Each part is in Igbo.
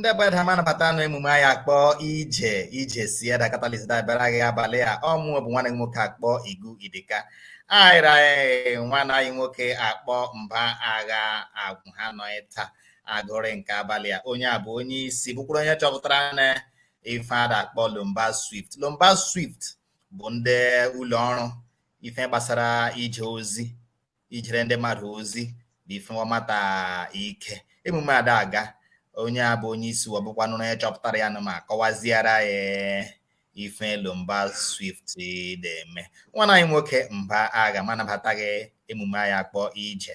ndị be edda m anabata nụ emume anyị akpọ ije ije si edda catalyst dabara gị abalị a ọ mụ bụ nwanne gị nwoke akpọ igu idika anyị ra nwanne anyị nwoke akpọ mba agha agwụ ha nọ taa agụrị nke abalị a onye a bụ onye isi bụkwara onye chọpụtara na ife a da-akpọ lomba swift lomba swift bụ ndị ụlọ ọrụ ife gbasara ije ozi ijere ndị mmadụ ozi bụ ife wa mata ike emume a da-aga onye a bụ onye isi ọ bụkwanụrụ onye chọpụtara ya nụ ma kọwaziara ya ife lomba swift na-eme nwana anyị nwoke mba agha m anabata gị emume anyị akpọ ije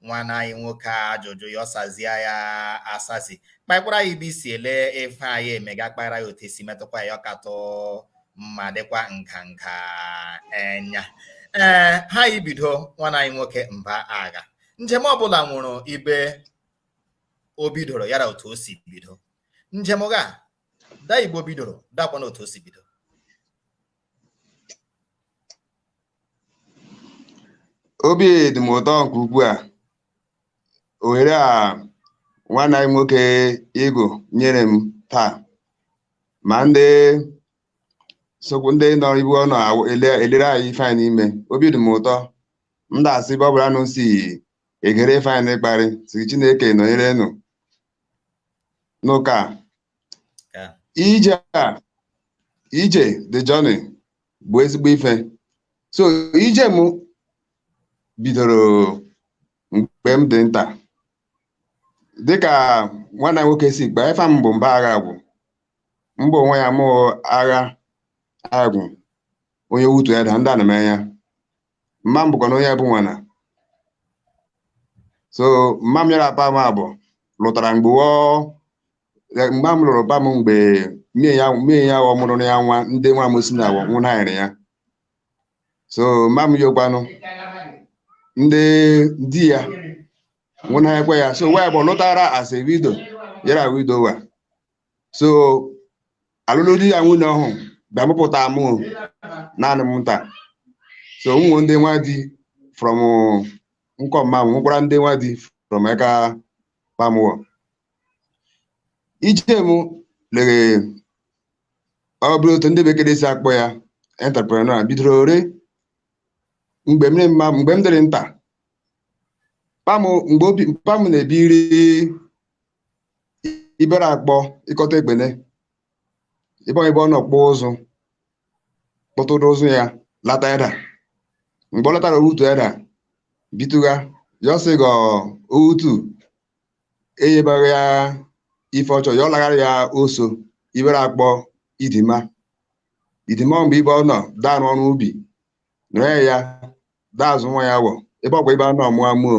nwanne anyị nwoke a ajụjụ ya ọ sazie ya asazi kpakwara ya ibe i si ele ife anyị emega kpara ya otu e si metụkwa ya ọ katụ mma dịkwa nganga enya ee ha ibido nwanne anyị nwoke mba agha njem ọbụla nwụrụ ibe o bidoro yara otu o si bido njem gị a da ibe o bidoro dakwanụ otu o si bido obi dị m ụtọ nke ukwuu a ohere a nwanne anyị nwoke Igu nyere m taa ma ndị sokwu ndị nọ ibu ọnụ awụ- ele- elere anyị ife anyị n'ime obi dị m ụtọ m na-asị ebe ọ bụla nụ si egere ife anyị n'ịkparị sị Chineke nọnyere nụ n'ụka a. Ka. ije a ije the journey bụ ezigbo ife so ije m bidoro mgbe m dị nta dịka nwanna nwoke si kpa efa m bụ mba agha agwụ mba onwe ya mụ agha agwụ onye owutu edda ndị anamanya mma m bụkwanụ onye ebunwana so mma m ya ra pa m abọ lụtara mgbe wo mma m lụrụ pa m mgbe mie ya mie ya ọ mụrụ ya nwa ndị nwa m si na abọ nwụnaịrị ya so mma m yokwanụ ndị di ya nwụnakwa ya so wo abọ lụtara as a widow ya ra widower so alụlụ di ra nwunye ọhụ bịa mụpụta mụ naanị m nta so m nwe ndị nwa di from nkọ mma m nwekwara ndị nwa di from aka pa m wọ ije m lere ọ bụrụ otu ndị bekee si akpọ ya entrepreneur bidororị mgbe m mma mgbe m dịrị nta pa m mgbe o pa m na-ebiri ibere akpọ ikot ekpene ibe ọ nọ kpụọ ụzụ kpụtụrụ ụzụ ya lata edda mgbe ọ latara owutu edda bitụga ya ọ sị gọ owutu eyebaghị ya ife ọ chọ ya ọ laghara ya oso ibere akpọ idima idima mgbe ibe ọ nọ da arụ ọrụ ubi nọ ya da azụ nwa ya wọ ebe ọkwa ibe a nọ mụọ mụọ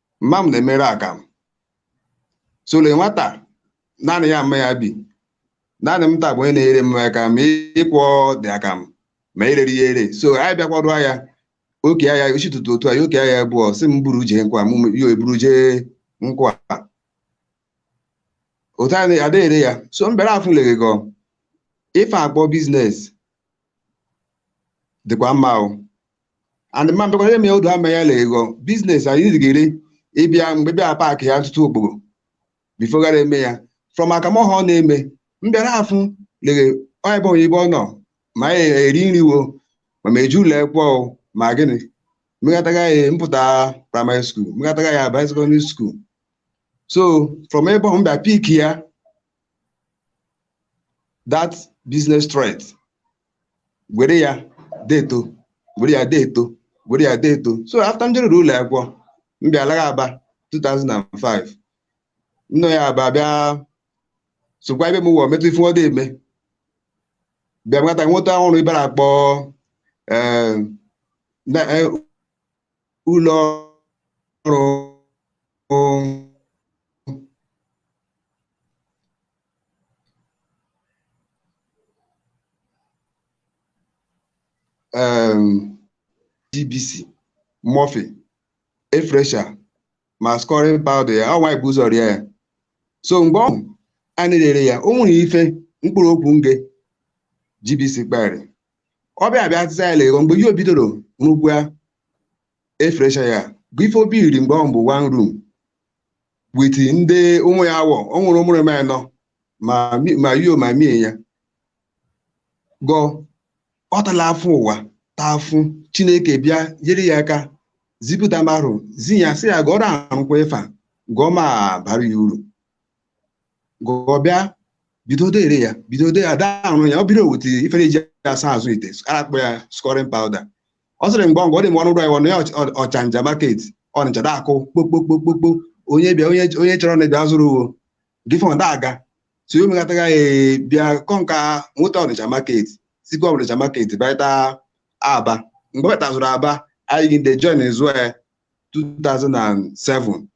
mma m na-emere akamụ so le nwata naanị ya mma ya bi naanị m taa bụ onye na-enyere mma aka ma ịkwọ the akamụ ma ireri ya ere so anyị bịa kwadoo ya o kee ya ochi ụtụtụ otu a o kee ya abụọ sị m buru jee nkwa ma yo eburu jee nkwa otu anyị da ere ya so m bịara afụ legego ife akpọ business dịkwa mma o and mma m bịakwa ihe mee odu ama ya la ego business anyị dịgịrị ịbịa mgbe bịa pack ya ntụtụ okporo before gara eme ya from akamụ ahụ ọ na-eme m bịara afụ lere onye bụ onye ibe ọ nọ ma anyị eri nri wo ma m eje ụlọ ekwọ ma gịnị m megataga ya m pụta primary school m megataga ya abanye secondary school so from ebe ọ m bịa pick ya that business trait were ya deeto were ya deeto were ya deeto so after m jeruru ụlọ akwụkwọ m bịa laga aba 2005 m nọ ya aba bịa sokwa ibe m wọ metụ ife wọ da eme bịa nweta nweta ọrụ ibe na-akpọ eh, na- eh, ụlọ ọrụ um, GBC Murphy, air freshener, ma scouring powder ya ọ nwaanyị bu ụzọ ria ya so mgbe ọ anyị rere ya o nwere ife mkpụrụ okwu nge GBC kpara ọ bịa abịa azịza ya lego mgbe ihe o bidoro n'ugwu ya air freshener ya bụ ife o biiri mgbe ọ bụ one room with ndị ụmụ ya wọ o nwere ụmụrụ m anọ ma mi- ma yo ma mie ya gọ ọ tala afụ ụwa taa afụ chineke bịa nyere ya aka zipụta marụ zi ya sị ya gọ da arụkwa ife a gọ ọ ma-abara ya uru gụọ bịa bido dere ya bido dere ada ahụ ya ọ biri oweta ife e ji asa azụ ite akpọ ya scouring powder ọ sịrị mgbe ọ dị mgbe ọnụ ụlọ ya ọnụ ya ọchanja market ọnịcha da akụ kpokpokpokpokpo onye bịa onye chọrọ na bịa zụrụ uwo gị fọn da aga so ya omegataga ya bịa kọ nka nweta ọnịcha market sikwa ọnịcha market bịata aba mgbe ọ bịatazụrụ aba anyị gị ndị join zụọ ya 2007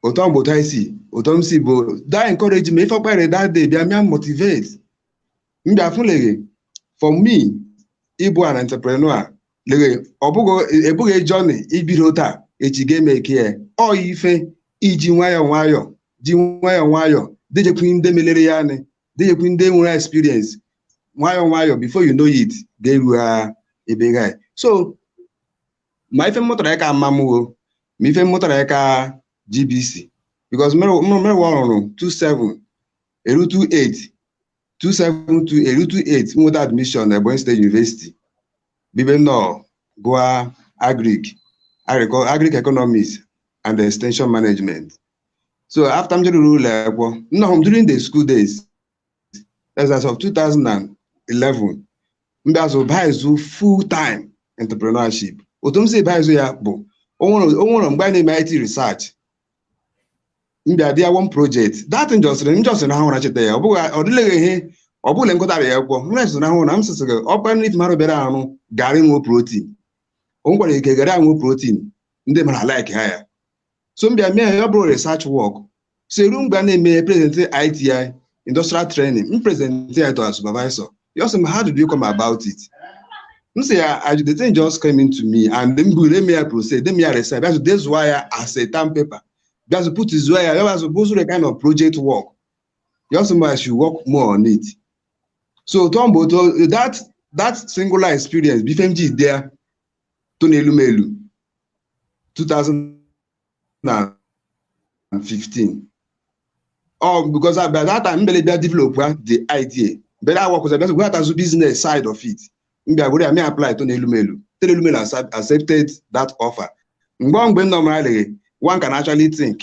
otu ahụ bụ otu anyị si otu m si bụ that encourage me ife ọ kpara that day bịa mịa motivate m bịa fụ leghe for me ịbụ an entrepreneur leghe ọ bụghị abụghị journey i bido taa echi ga-emake ya ọ yi ife i ji nwayọọ nwayọọ ji nwayọọ nwayọọ dejekwu ndị melere ya anị dejekwu ndị nwere experience nwayọọ nwayọọ before you know it ga-eru ha ebe ga so ma ife m mụtara eka mama mụ o ma ife m mụtara eka gbc because mmewa o ruru 27 eru 28 27 2 eru 28 m nweta admission na Ebonyi State University bụ ebe m nọ gụa agric agric- agric economics and extension management so after m jeruru ụlọ akwụkwọ nnọọ m during the school days as of 2011 m bịa so bazụ full time entrepreneurship otu m si bazụ ya bụ o nwere mgbe a na-eme IT research m bịa dea one project that m just m just ahụ na cheta ya ọ bụghị ọ dịleghị ihe ọ bụla m gụtara ya akwụkwọ m na-eso na ahụ na m sịsị gị ọkpa nri tụmarụ bịara arụ garị nwee protein o nwekwara ike garị enwe protein ndị madụ like ha ya so m bịa mee ya ọ bụrụ research work so e ru mgbe a na-eme ya present IT industrial training m present ya to a supervisor ya ọ sị m how did you come about it m sị ya "I- the thing just came into me and m buru eme ya process de eme ya research bịa dezuo ya as a term paper bịa so put zuo ya bịa so bụzụrụ kind of project work ya ọ sị m I should work more on it so tọọ mgbe otu that that singular experience bụ ife m ji dee Tony Elumelu 2015 ọ because I by that time mbele bịa developụa the idea mbele awakụzi bịa we atazu business side of it m bịa were ya mee apply Tony Elumelu Tony Elumelu accept- accepted that offer mgbe mgbe m nọ mara leghe one can actually think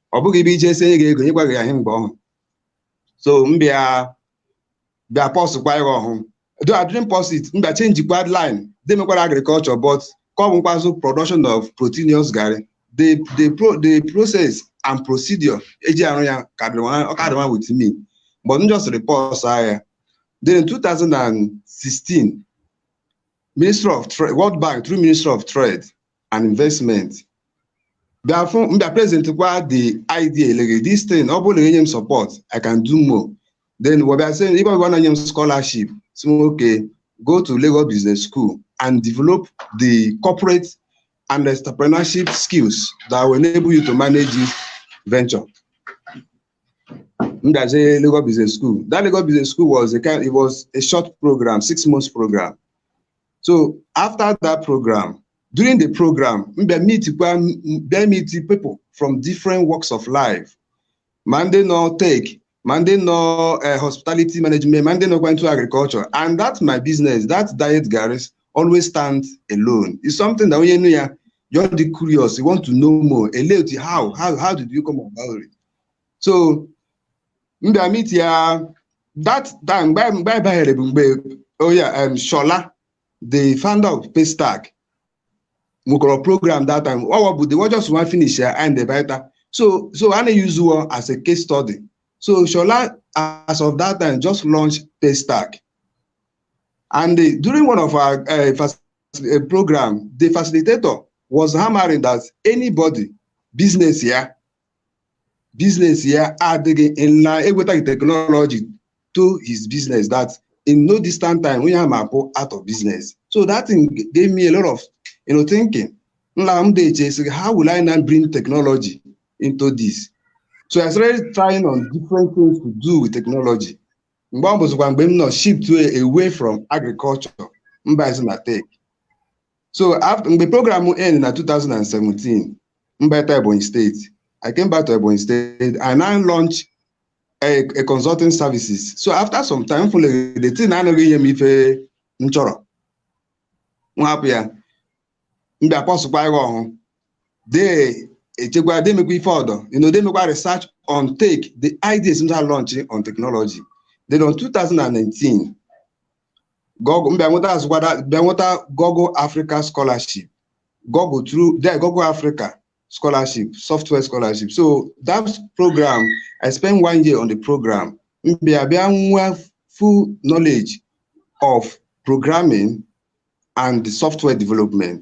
ọ bụghị ebe i je esi enye gị ego nyekwaghị ya ihe mgbe ọhụrụ so m bịa bịa pausekwa ya ọhụụ though I didn't pause it m bịa changekwa line dị mekwara agriculture but ka ọ bụkwazụ production of proteinous garri the the pro the process and procedure eji arụ ya ka dịrị nwa- ọ ka dịrị nwa with me but m just pause ya then in 2016 ministry of trade world bank through ministry of trade and investment bịa fụ mbịa present kwa the idea lege this thing ọ bụrụ na enye m support i can do more then wabịa sị ibe ọbịa na-enye m scholarship si m okay go to Lagos Business School and develop the corporate and entrepreneurship skills that will enable you to manage this venture. Ndaje Lagos Business School. That Lagos Business School was a kind, it was a short program, six months program. so after that program during the program m bịa mitikwa bịa miti people from different walks of life ma ndị nọ tech ma ndị nọ eh, hospitality management ma ndị nọkwa into agriculture and that my business that diet garris always stand alone is something that onye nụ ya ọ dị curious you want to know more ele otu how how how did you come about it so m bịa miti ya that time mgbe mgbe anyị banyere bụ mgbe oya em shola the founder of paystack nwekọrọ program that time ọwa bụ the wa just wa finish ya and ebaita so so a na-use wo as a case study so shola as of that time just launched paystack and the, during one of our uh, fac- uh, program the facilitator was hammering that anybody business ya business ya adịghị online egwetaghị technology to his business that in no distant time onye ahụ ma-apụ out of business so that thing gave me a lot of you know, thinking nla m dị eche sị how will I now bring technology into this so I started trying on different things to do with technology mgbe ọ bụzikwa mgbe m now shift away from agriculture m bazi na tech so after mgbe program end na 2017 m bata Ebonyi steeti I came back to Ebonyi steeti I now launch a, a consulting services so after some time m fụlere the thing anaghị inye m ife m chọrọ m hapụ ya m bịa pausekwa ya ọhụ dee echekwa demekwa ife ọdọ you know demekwa research on tech the ideas m ma launch on technology then on 2019 Google mbịa nweta azụkwada bịa nweta Google Africa Scholarship Google through there Google Africa Scholarship Software Scholarship so that program I spent one year on the program mbịa bịa nwa full knowledge of programming and software development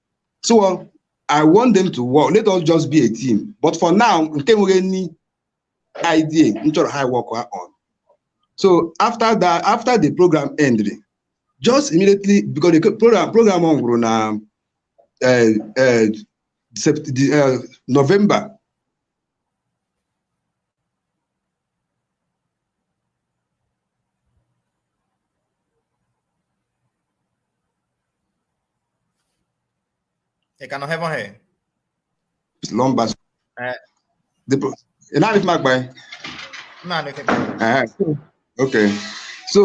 so i want them to work let us just be a team but for now nke m nwere any idea m chọrọ ha work ha on so after that after the program ended just immediately because the program program ọ gwụrụ na eh, eh, Sept- the, eh, november ị ka nọ hebe ọhịa lọmba Eh. Dịpụ- ị na-adị mma gba ya? naanị oke Ehe. Okay. So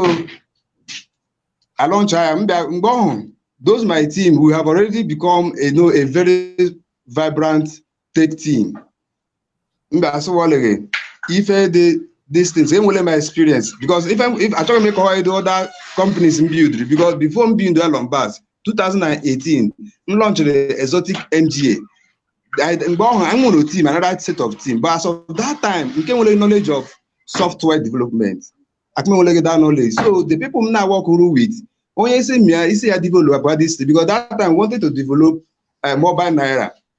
I launch ya mgbe ọhụ, those my team we have already become you know a very vibrant tech team. mba asịwọlịghị ife dị distance enwere m experience because if I'm, if achọghị m ịkọwa edo other companies m build because before m build Elon Bas 2018 m launchịrị exotic MGA mgbe ọhụ anyị nwere team another set of team but as of that time nke m nwere knowledge of software development akụ m enweleghị that knowledge so the people m na-awọkụrụ with onye isi m ya isi ya develop abụọ this because that time we wanted to develop uh, mobile naira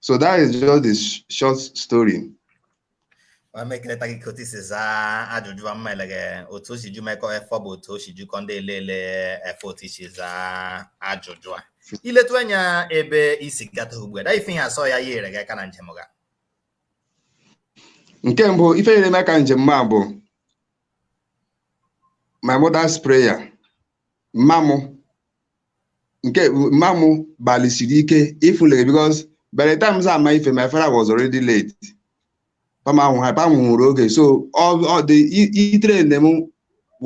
so that is just the sh- short story ma m ekeleta gị ka otu i si zaa ajụjụ a m ma leghe otu o si ju mekọ efọ bụ otu o si jukọ ndị ele ele efọ otu i si zaa ajụjụ a i letu anya ebe i si gata ugbu a da ife ihe asị ya yere gị aka na njem ga nke mbụ ife nyere m aka njem m a bụ my mother's prayer mma m nke mma m gbalịsiri ike ịfụ leghe because by the time m ama ife my father was already late pa m ahụ ha pa m nwụrụ oge so ọ dị ị train m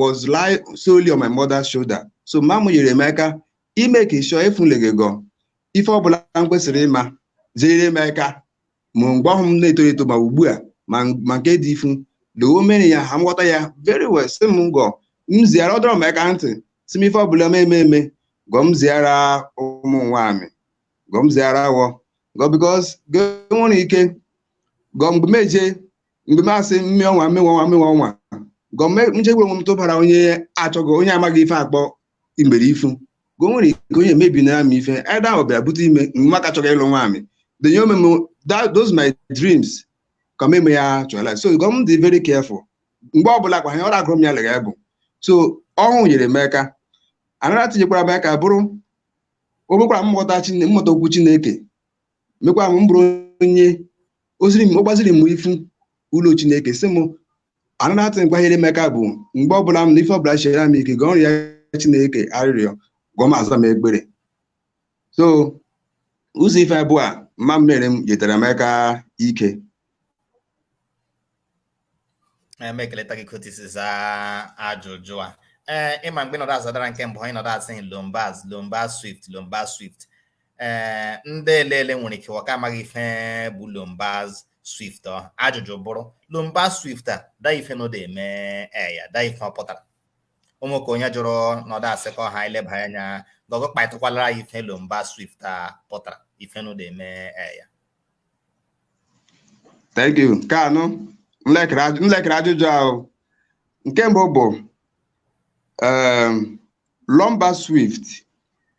was lie solely on my mother's shoulder so mma m nyere m aka ime ka ịchọ ịfụ leghe gọ ife ọbụla m kwesịrị ịma zere m aka ma mgbe ọhụ m na-eto eto ma ugbu a ma ma nke dị ifu na o mere ya ha m ghọta ya very well sị m gọ m ziara ọ dọrọ m aka ntị sị m ife ọbụla m eme eme gọ m ziara ụmụ nwaamị gọ m ziara wọ gọ because gọ nwere ike gọ mgbe m eje mgbe m asị mme ọnwa mme ọnwa mme ọnwa gọ m je ebu onwe m tụbara onye achọghị onye amaghị ife akpọ igbere ifu ka o nwere ike onye mebi na ama ife ada ahụ bịa bute ime mma ka chọrọ ịlụ nwaamị the nye omeme those my dreams ka meme ya chọla so gọ m dị very careful mgbe ọbụla kwa ha ọrụ agụrụ m ya lega bụ so ọhụ nyere m aka anara tinyekwara m aka bụrụ o mekwara m mụta Chine- m mụta okwu chineke mekwara m bụrụ onye o ziri m ọ gbaziri m ifu ụlọ chineke sị m another thing kwa yere m eka bụ mgbe ọbụla m na ife ọbụla siri m ike gọ rịa chineke arịrịọ gọ ma aza m ekpere so ụzọ ife abụọ a mma m mere m jetara m eka ike m ekeleta gị ka otu i si za ajụjụ a ee ị ma mgbe nọdụ azadara nke mbụ anyị nọdụ asị lombaz lombaz swift lombaz swift ee eh, ndị elele nwere ike wa ka amaghị ife bụ lombaz swift ọ ajụjụ bụrụ lombaz swift a da ife anọdụ eme eya eh, da ife ọ pụtara ụmụ ka onye jụrụ nọdụ asị ka ọha ileba anya gọ gụ kpatụkwala ya ife lombaz swift a pụtara ife anọdụ eme eya eh, thank you nke anụ nlekere ajụjụ ahụ nke mbụ bụ um, lombaz swift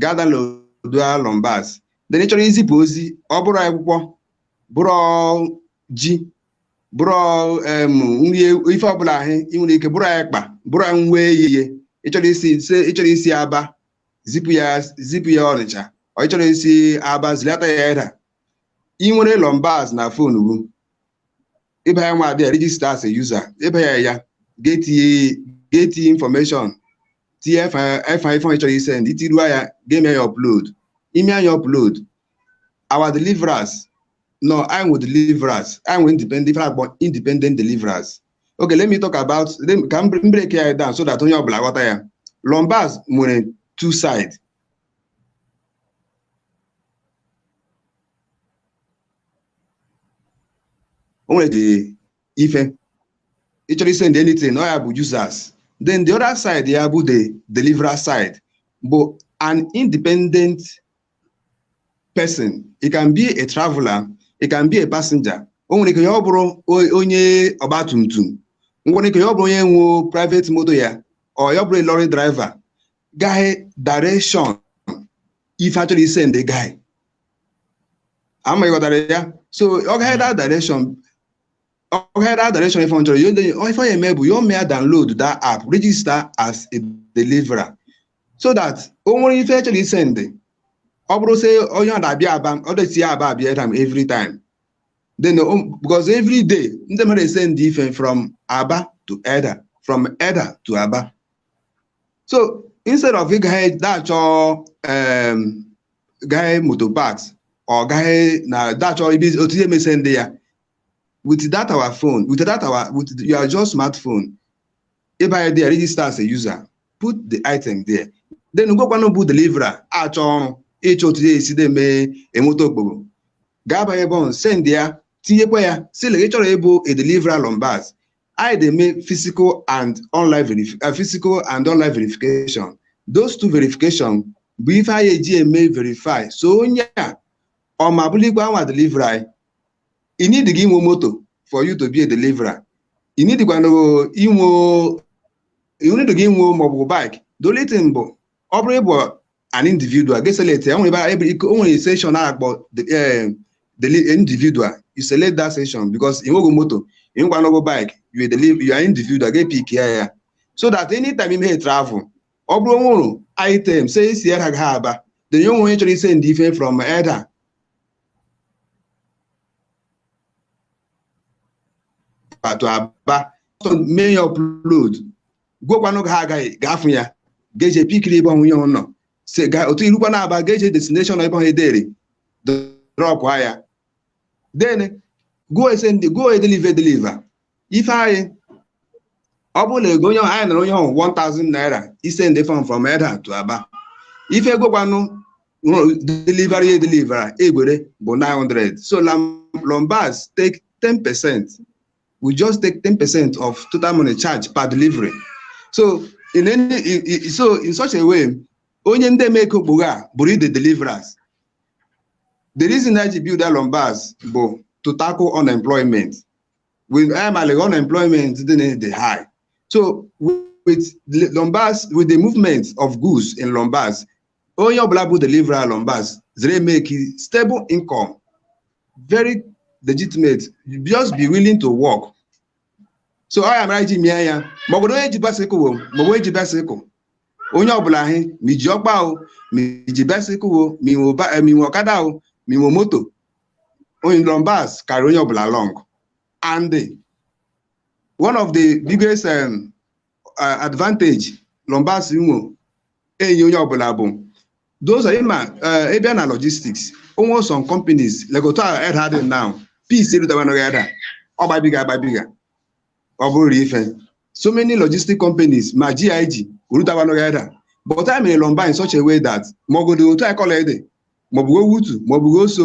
ga download lombaz then ị chọrọ izipụ ozi ọ bụrụ akwụkwọ bụrụ ji bụrụ em, nri ewu- ife ọbụla ahụ ị nwere ike bụrụ ekpa bụrụ nwa eyiye ị chọrọ isi ise- ị chọrọ isi aba zipụ ya zipụ ya ọnịcha or ị chọrọ isi aba zilata ya edda ị nwere lombaz na phone gị ị baa ya nwa abịa register as a user ị baa ya ya ga-etinye ga-etinye information tinye ife ife ife ị chọrọ isend itiruo ya ga-eme ya upload i mee ya upload our deliverers no anyị nwe deliverers anyị nwe independent ife akpọ independent deliverers okay let me talk about let me- ka m m break ya down so that onye ọbụla ghọta ya lombas nwere two side o nwere the ife ị chọrọ isend anything ọ ya bụ users then the other side ya bụ the deliverer side bụ an independent person it can be a traveler it can be a passenger o nwere ike ya ọ bụrụ onye ọgba tum tum nwere ike ya ọ bụrụ onye nwe private moto ya or ya ọ bụrụ a lorry driver gaghị direction ife achọrọ isend gaghị ama ị ghọtara ya so ọ gaghị that direction ọ gaghị that direction ife ọ chọrọ ife ọ ya eme bụ ya o mee ya download that app register as a deliverer so that o nwere ife achọrọ isend ọ bụrụ sị onye ọ na-abịa aba ọ dịsi ya aba abịa time every time then because every day ndị mmadụ esend ife from aba to eda from eda to aba so instead of ịga da-achọ em, gaghị moto parks or gaghị na da-achọ ibi otu ị ya eme send ya with that our phone with that our with your just smartphone ị baa ya there register as a user put the item there then gwakwanụ bụ deliverer achọ ọrụ ịchọ otu ya esi dị mee enweta okpogho gaa banye ebe ọhụ send ya tinyekwa ya sị la ị chọrọ ịbụ a deliverer lombas anyị na-eme physical and online verif- eh, physical and online verification those two verification bụ ife anyị eji eme verify sị onye a ọ ma bụlikwa nwa deliverer anyị ị needighị inwe moto for you to be a deliverer ị needikwana inwe ị needighị inwe maọbụ bike the only thing bụ ọ bụrụ ị bụ an individual gị eselect ya nwere ebe o nwere section a akpọ individual you select that section because ị nweghị moto ị nwekwanụghị bike you deliver you are individual gị epick ya ya so that anytime ị me travel ọ bụrụ o nwere item say isi eda gaha aba then e nwee onye chọrọ isend ife from eda to aba mee ya upload gwekwanụ gị ha agaghị ga-afụ ya ga-eje pickiri ebe ọnwụ ya ụlọ si ga otu ị rukwanụ aba ga-eje destination ebe ọhụ edere dropụ ya then go esend go edeliver edeliver ife anyị ọ bụrụ na ego onye ọhụ anyị nara onye ọhụ 1000 naira isend phone from eda to aba ife gwekwanụ deliverer edeliver egwere bụ 900 so lombas take 10 percent we just take 10% of total money charge per delivery. So in any i- i- so in such a way, onye ndị eme ego okpogho a bụrụ the deliverers. The reason I build that Lombards bụ to tackle unemployment. With I'm like unemployment dị na- dị high. So with the Lombards, with the movement of goods in Lombards, onye ọbụla bụ delivery a Lombaz zere make stable income very legitimate just be willing to work so ọ ya mara iji mie ya ma ọ bụrụ onye ji basikụ o ma ọ bụ onye ji basikụ onye ọbụla ahụ ma iji ọkpa o ma iji basikụ o ma inwe ba- eh, ma inwe ọkada o ma inwe moto o Lombaz carry onye ọbụla along and one of the biggest um, advantage Lombaz nwo enye onye ọbụla bụ those are ịma ịbịa na logistics onwe some companies like otu Edda dị now Peace erutabanụghị Edda ọ gbabiga agbabiga ọ bụrụ ife so many logistic companies ma GIG erutabanụghị Edda but anyị mere Lombaz in such a way that maọgodo otu Ekoli Edda maọbụ Owutu maọbụ Oso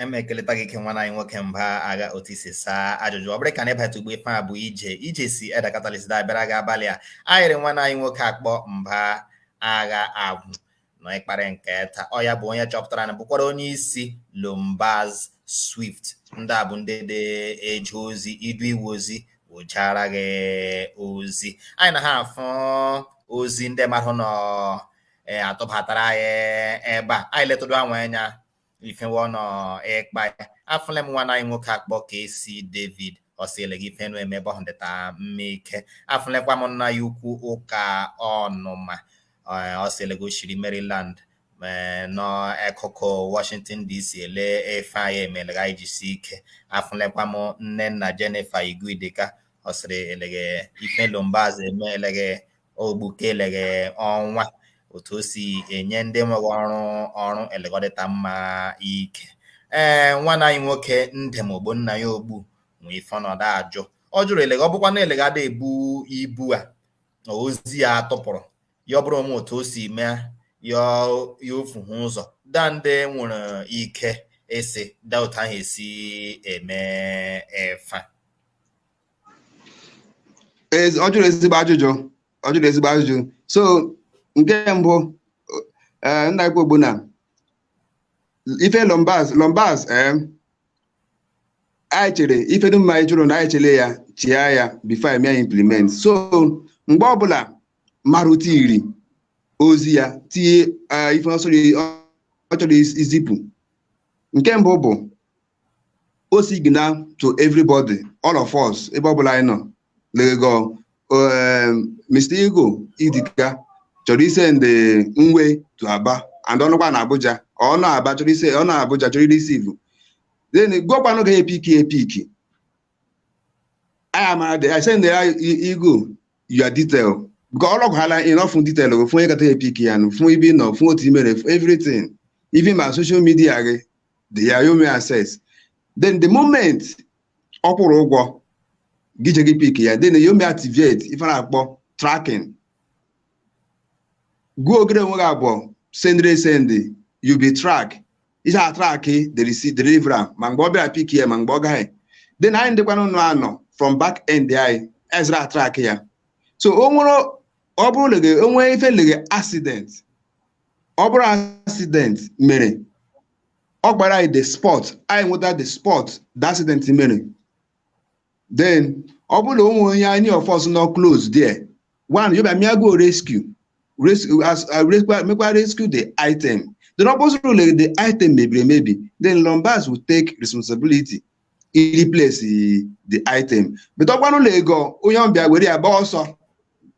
eme ekeleta gị ike nwanna anyị nwoke mba agha otu i si saa ajụjụ ọ bụrụ ka na ịbata ugbu a ife a bụ ije ije si Edda Catalyst da abịara gị abalị a anyị rị nwanna anyị nwoke akpọ mba agha agwụ nọ ịkparị nke taa ọ ya bụ onye chọpụtara na bụkwara onye isi lombaz swift ndị a bụ ndị da eje ozi idu iwu ozi wụchara gị ozi anyị na ha afụ ozi ndị mmadụ nọ ee atụbatara anyị ebe a anyị letụrụ anwa anya ife wo nọ ịkpa ya afụla m nwanna anyị nwoke akpọ KC david ọ sị eleghe ife unu eme ebe ahụ dịta mma ike afụlekwa m nna ya ukwu ụka ọnụma ọ sị eleghe o shiri maryland n'akụkụ washington dc ele ife anyị eme eleghe anyị jisi ike afụlekwa m nne nna jennifer Igu Idika ọ sịrị eleghe ife Lombaz eme eleghe o gbuke eleghe ọnwa otu o si enye ndị nweghị ọrụ ọrụ eleghe ọ dịta mma ike ee nwanna anyị nwoke ndem Ogbonnaya ogbu nwe ife ọ nọ da ajụ ọ jụrụ eleghe ọ bụkwa na eleghe a da ebu ibu a ozi ya atụpụrụ ya ọ bụrụ o nwe otu o si mee ya ya ofu ha ụzọ daa ndị nwere ike ịsị daa otu ahụ esi eme ife a Ezi- ọ jụrụ ezigbo ajụjụ ọ jụrụ ezigbo ajụjụ so nke mbụ eh, m na-ekwu bụ na ife lombaz lombaz eh, anyị chere ife dum a ị jụrụ na anyị chere ya chịa ya before anyị mee implement so mgbe ọbụla mmadụ tiri ozi ya tinye eh, ife ọ sọrọ- ọ chọrọ izipụ nke mbụ bụ ọ signal to everybody all of us ebe ọ bụla anyị nọ lege Mr. Ego Idika chọrọ isendị nwe to Aba and ọ nọkwa na Abuja ọ nọ Aba chọrọ isend ọ nọ Abuja chọrọ ireceive then gụọkwanụ ga epick epick anyị amara dị anyị send ya Ego your detail nke ọlọgwụ ha line enough detail bụ fụnye kata epick ya nụ fụnye ibe nọ fụnye otu imere everything even ma social media gị then ya emee access then the moment ọ kwụrụ ụgwọ gị je gị pick ya then ya emee activate ife na-akpọ tracking gụọ ogere onwe gị abụọ sendịrị esendị you be track ihe a track the receipt deliverer ma mgbe ọ bịara pick ya ma mgbe ọ gaghị then anyị ndịkwanụ nọ from back end anyị ezira atrack ya so o nwere ọ bụrụ lege o nwe ife lege accident ọ bụrụ accident mere ọ kpara anyị the spot anyị nweta the spot the accident mere then ọ bụrụ na o nwere onye any of us nọ close there onye ọbịa me go rescue rescue as uh, rescue mekwa rescue the item then ọ bụrụ na the item mebiri emebi then Lombas will take responsibility ireplace the item but ọ kwanụ lege onye ọbịa were ya gbaa ọsọ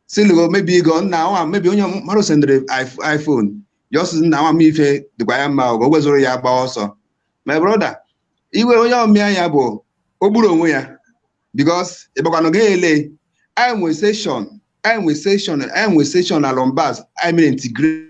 sị na maybe ego nna nwa maybe onye mmadụ sendịrị iPhone just nna nwa m ife dịkwa ya mma ogo wezụrụ ya gbaa ọsọ my brother iwe onye ọmịa ya bụ o gburu onwe ya because ị gbakwanụ ga ele anyị nwe section anyị nwe section anyị nwe section na Lombas anyị mere integrate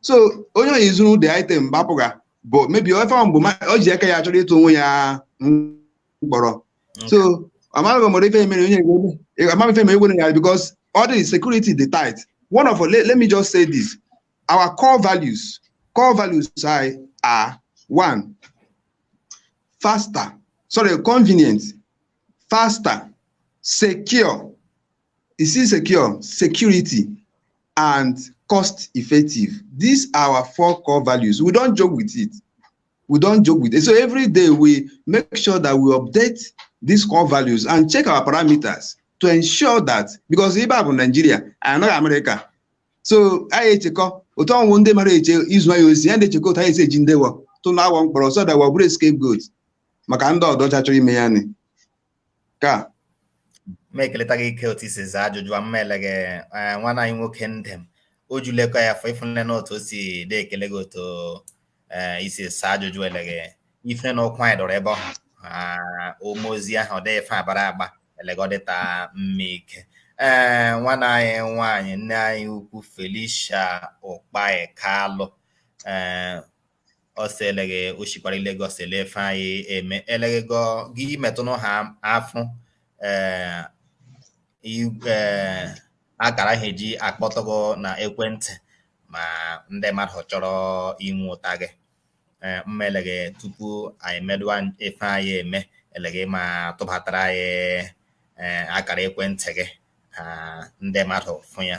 so onye onye zuru the item gbapụga but maybe ife ahụ bụ o ji aka ya chọrọ ịtụ onwe ya mkpọrọ so amaghị m ife mere onye amaghị ife mere egwere ya because all the security dey tight one of let, let me just say this our core values core values are are one faster sorry convenient faster secure Is secure, security, and cost effective. These are our four core values. We don't joke with it. We don't joke with it. So every day we make sure that we update these core values and check our parameters to ensure that because ibe a bụ Nigeria anyị nọghị America so anyị echekọ otu ọnwụ ndị mara eche izu anyị ozi anyị ndị echekọ otu anyị esi ejide wọ tụnye wọ mkpọrọ so that wọ abụrụ scapegoat maka ndị ọdọcha chọrọ ime ya nị ka m ekeleta gị ike otu i si saa ajụjụ a mma elege eh, nwanne anyị nwoke Ndem o julekọ ya afọ ịfụnne na otu o si dị ekele gị otu eh, i si saa ajụjụ elege ịfụnne na ụkwụ anyị dọrọ ebe ọ ah, ụmụ ozi ahụ ọ dịghị ife a gbara agba elege ọ dịta mma ike ee nwanne anyị nwaanyị nne anyị ukwu Felicia Ukpai Kalụ ee ọsọ eleghị oshikwara Lagos ele ife anyị eme eleghị gọ gị metụnụ ha afụ ee i- ee, akara ha eji akpọtụ gị na ekwentị ma ndị mmadụ chọrọ inweụta gị ee mma eleghị tupu anyị medụwa ife anyị eme eleghị ma tụbatara anyị ee akara ekwentị gị ha ndị mmadụ fụ ya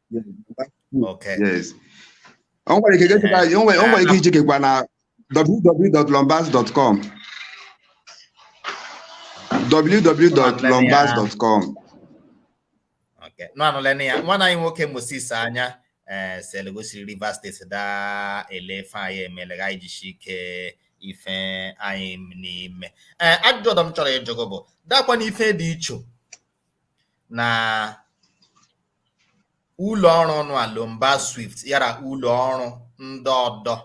Okay. Yes. O nwere ike gechekwa anyị, o nwere o nwere ike ichekikwa na www.lombas.com www.lombas.com Okay. Nụ anụla na ya nwanne anyị nwoke Moses Anya ee sel gosiri Rivers steeti daa ele ife anyị emele ka anyị jishi ike ife anyị na-eme ee ajụjụ ọdọ m chọrọ ịjụ gị bụ dakwa na ife dị iche na Ụlọ ọrụ nwa Lombas Swift yara ụlọ ọrụ ndị ọdọ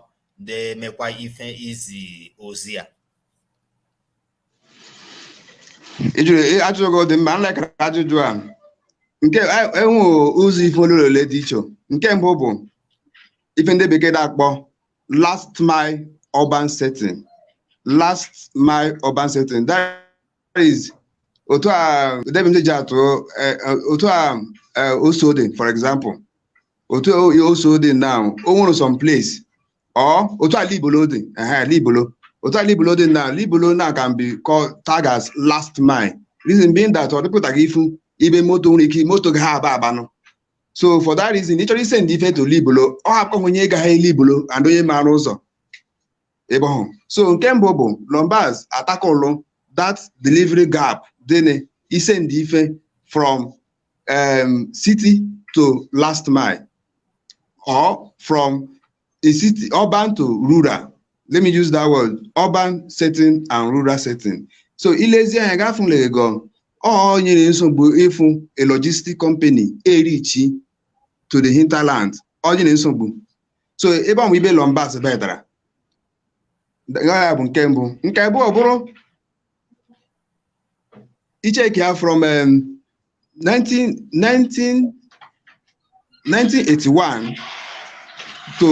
na-emekwa ife izi ozi a. Ị jụrụ ị- ajụjụ gị ọ dị mma nlekara ajụjụ a nke a- enwe ụzọ ife ole la ole dị iche nke mbụ bụ ife ndị bekee na-akpọ last mile urban setting last mile urban setting that is otu a debite ji atụ eh, eh, otu a eh, oso dị for example otu o- oso dị now o nwere some place or otu a libolo dị ehe libolo otu a libolo dị now libolo now can be called tag as last mile reason being that ọ dịpụtaghị ifu ibe moto nwere ike moto gị ha aba abanụ so for that reason ị chọrọ isend ife to Libolo ọ hapụkwa onye gaghị libolo and onye maara ụzọ ebe ọhụ so nke mbụ bụ Lombas atackle that delivery gap dị n'isend ife from um, city to last mile or from a city urban to rural let me use that word urban setting and rural setting so i lezie anya ga-afụla ego ọ nyere nsogbu ịfụ a logistic company erichi to the hinterland ọ nyere nsogbu so ebe ọmụ ibe Lombas bedara ya bụ nke mbụ nke abụọ bụrụ i cheki ya from um, 19, 19, 1981 to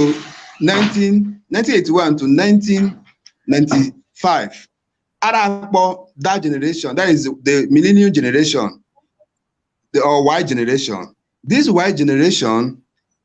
19, 1981 to 1995 ara akpọ that generation that is the millennium generation the or y generation this y generation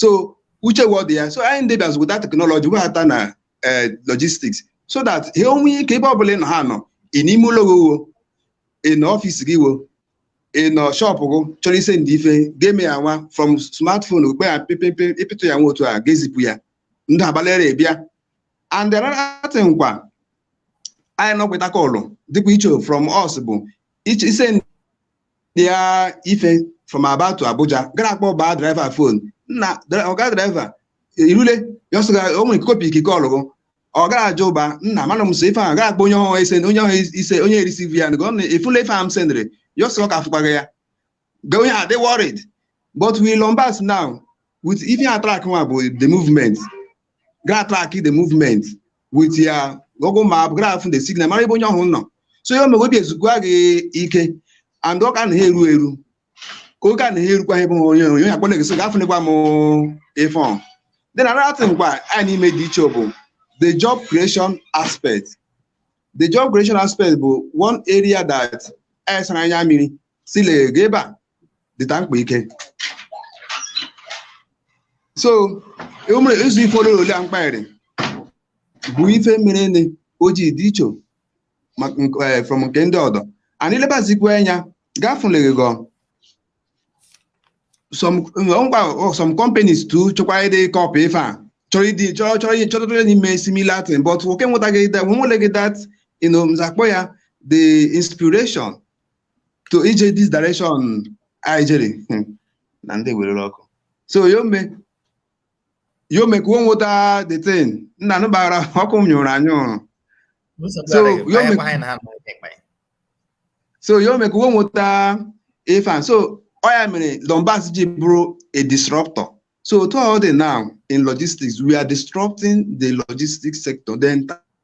so uche wụ ọdụ ya so anyị ndị bịazụ weta teknọlọji webata na eh, logistics so that ha enwe ike ebe ọbụla ị nọ ha nọ ị n'ime ụlọ gị wo ị nọ ọfịs gị wo ị nọ shọpụ gị chọrọ isendi ife ga-eme ya nwa from smartphone okpe ya pịpịpị ịpịtụ ya nwa otu a ga-ezipụ ya ndị abalịra ebịa and another thing kwa anyị nọkweta kọlụ dịkwa iche from us bụ ịchọ ise kpịa ife from Aba to Abuja gara akpọ baa draiva fon nna ọga draiva irule ya ọsọ o nwere kopi ikike ọlụgụ ọ gara ajụ ụba nna mana m so ife ahụ gara akpọ onye ọhụrụ ise onye ọhụrụ ise onye erisivi ya na gọọmenti ifụla ife ahụ m sendịrị ya ọsọ ka afụkwaghị ya ga onye adị worried but with Lombas now with ife atrak nwa bụ the movement gara atrak the movement with ya Google map gara afụ the signal mara ebe onye ọhụ nọ so ya emee obi ezukwa gị ike and ọ ka na ha eru eru ka oge a na ha erukwa ebe onye onye onye akpọna gịso gafụnịkwa m ife another thing kwa anyị na-eme dị iche bụ the job creation aspect the job creation aspect bụ one area that anyị sara anya mmiri sị eleghị ebe a dịta mkpa ike so o mere isi ife ole ole a m kpara bụ ife mere nị o ji dị iche maka nke- eh, from nke ndị ọdọ anyị lebazikwa anya gafuleghi gọ some ngwa some companies too chọkwa ịdị kọpị ife a chọrọ ịdị chọrọ chọrọ ihe chọrọ chọrọ ime similar thing but wo enwetaghị that nwe nweleghị that you know m za-akpọ ya the inspiration to ije this direction anyị jere hmm, na ndị werere ọkụ so yome yome ka wo nweta the thing nna nụ gbaghara ọkụ m nyụrụ anyụ so yome so yome ka wo nweta ifan so ọ ya mere Dombas ji bụrụ a disruptor So otu ọ dị now in logistics, we are disrupting the logistics sector, the entire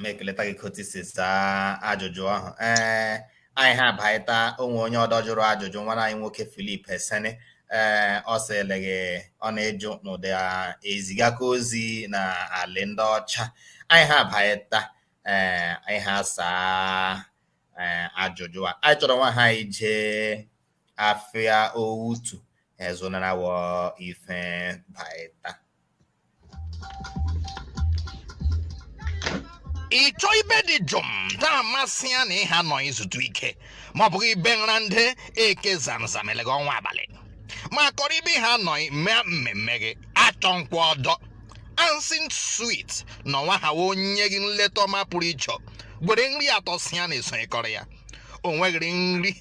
m ekeleta gị kotu i si saa ajụjụ ahụ ee anyị ha abaịta o nwe onye ọdọ jụrụ ajụjụ nwanna anyị nwoke Filip Esene ee ọ sị eleghị ọ na-ejụ n'ụdị ezigakwa ozi na alị ndị ọcha anyị ha abaịta ee anyị ha asaa ee ajụjụ a anyị chọrọ nwa ha ije afịa otu ezụnara wọ ife baịta ịchọ ibe dị jụụ na-amasị ya na ịha nọ izutu ike ma ọ bụghị ibe nra ndị eke zamzam eleghị ọnwa abalị ma kọrọ ibe ha nọ mee mmemme gị achọ nkwa ọdọ Ansin Suite na ọnwa ha wee enye gị nleta ọma pụrụ iche were nri atọ si ya na-esonyekọrọ ya o nweghịrị nri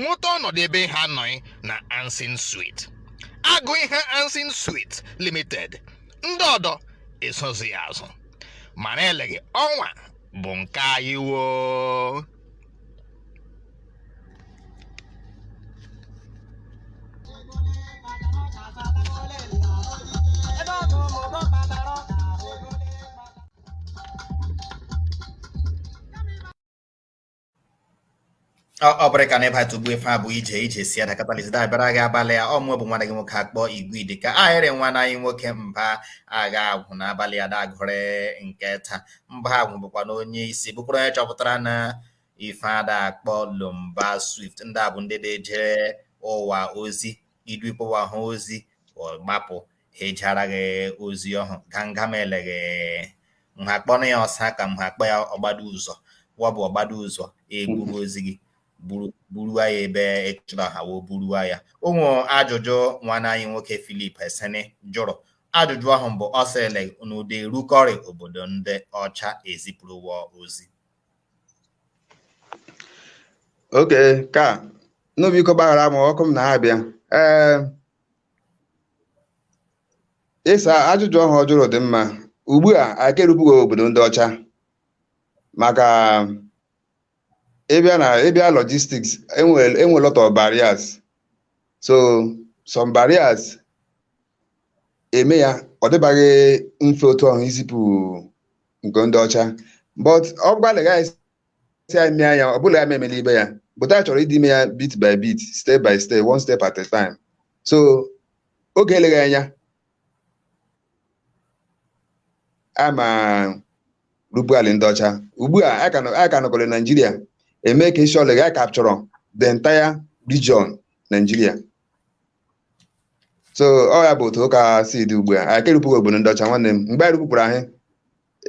nweta ọnọdụ ebe ha anọghị na Ansin Sweet agụ ihe Ansin Sweet Limited ndị ọdọ esozi ya azụ mara eleghị ọnwa bụ nke anyị woo ọ bụrụ ka na ịba tụgbu ife a bụ ije ije si ada katalisi da-abịara gị abalị ya ọ mụ bụ nwanne gị nwoke akpọ igwe idi ka ahịrị nwanne anyị nwoke Mba Agha Agwụ na abalị ya dagụrị nke taa Mba Agwụ bụkwa na onye isi bụkwara onye chọpụtara na ife ada akpọ Lomba Swift ndị a bụ ndị da-ejere ụwa ozi idu ikpọwa ha ozi gbapụ ejere gị ozi ọhụ ganga m eleghị nha kpọrọ ya ọsa ka m ha kpọ ya ọgbado ụzọ wa bụ ọgbado ụzọ eburu ozi gị buruwa ya ebe ị chọrọ ha wee buruwa ya ụmụ ajụjụ nwanne anyị nwoke Philip Esene jụrụ ajụjụ ọhụ bụ ọ sịrịla unu da-erukọrị obodo ndị ọcha ezipụrụ ụwa ozi okay ka nụ biko gbaghara m ọkụ m na-abịa ee ịsa ajụjụ ọhụ ọ jụrụ dị mma ugbu a aka erubeghị obodo ndị ọcha maka ịbịa na ịbịa logistics enwere enwe lot of barriers so some barriers eme ya ọ dịbaghị mfe otu ọhụ izipụ nke ndị ọcha but ọ gbalịghị anyị si anyị mee ya ọ bụla ya memela ibe ya but anyị chọrọ ịdị ime ya bit by bit step by step one step at a time so oge eleghị anya a ma erupu ala ndị ọcha ugbu a anyị ka nọ- anyị ka nọkọrọ na Naịjirịa eme ka isi ọlịga anyị capture the entire region Naịjirịa so ọ ya bụ otu ụka si dị ugbu a anyị ka erubeghị obodo ndị ọcha nwanne m mgbe anyị rupụrụ anyị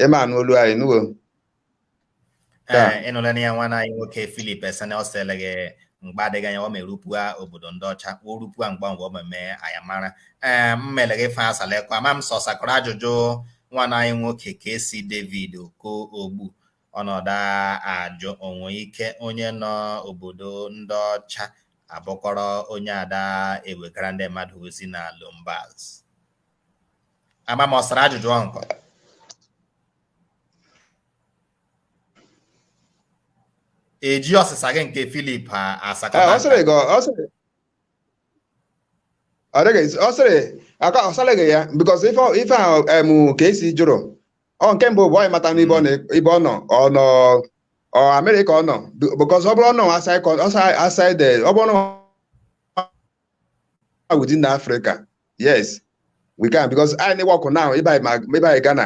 ị ma anụ olu anyị nuwo ịnụla eh, na ya nwanne anyị nwoke Philip Esene ọ sị eleghị mgbe adịghị anya ọ ma erupụa obodo ndị ọcha o rupụa mgbe mgbe ọ meme anyị amara ee eh, m mere gị fa asalekwa ma m sọsakọrọ ajụjụ nwanne anyị nwoke ka esi David Okoogbu ọ nọ da ajụ o nwe ike onye nọ obodo ndị ọcha abụkọrọ onye ada ewegara ndị mmadụ ozi na Lombaz ama m ọsara ajụjụ ọnkọ eji ọsịsa gị nke Filip asakọta ọ sịrị gị ọ sịrị ọ dịghị ọ sịrị aka ọ sịrị gị ya because ife ife ahụ em KC jụrụ ọ nke mbụ bụ anyị mata n'ibe ọ na- ibe ọ nọ ọ nọ n'America ọ nọ because ọ bụrụ ọ nọ aside con- aside aside eh, ọ bụrụ ọ nọ within Africa yes we can because anyị na-awork now ịbanye ma- ịbanye Ghana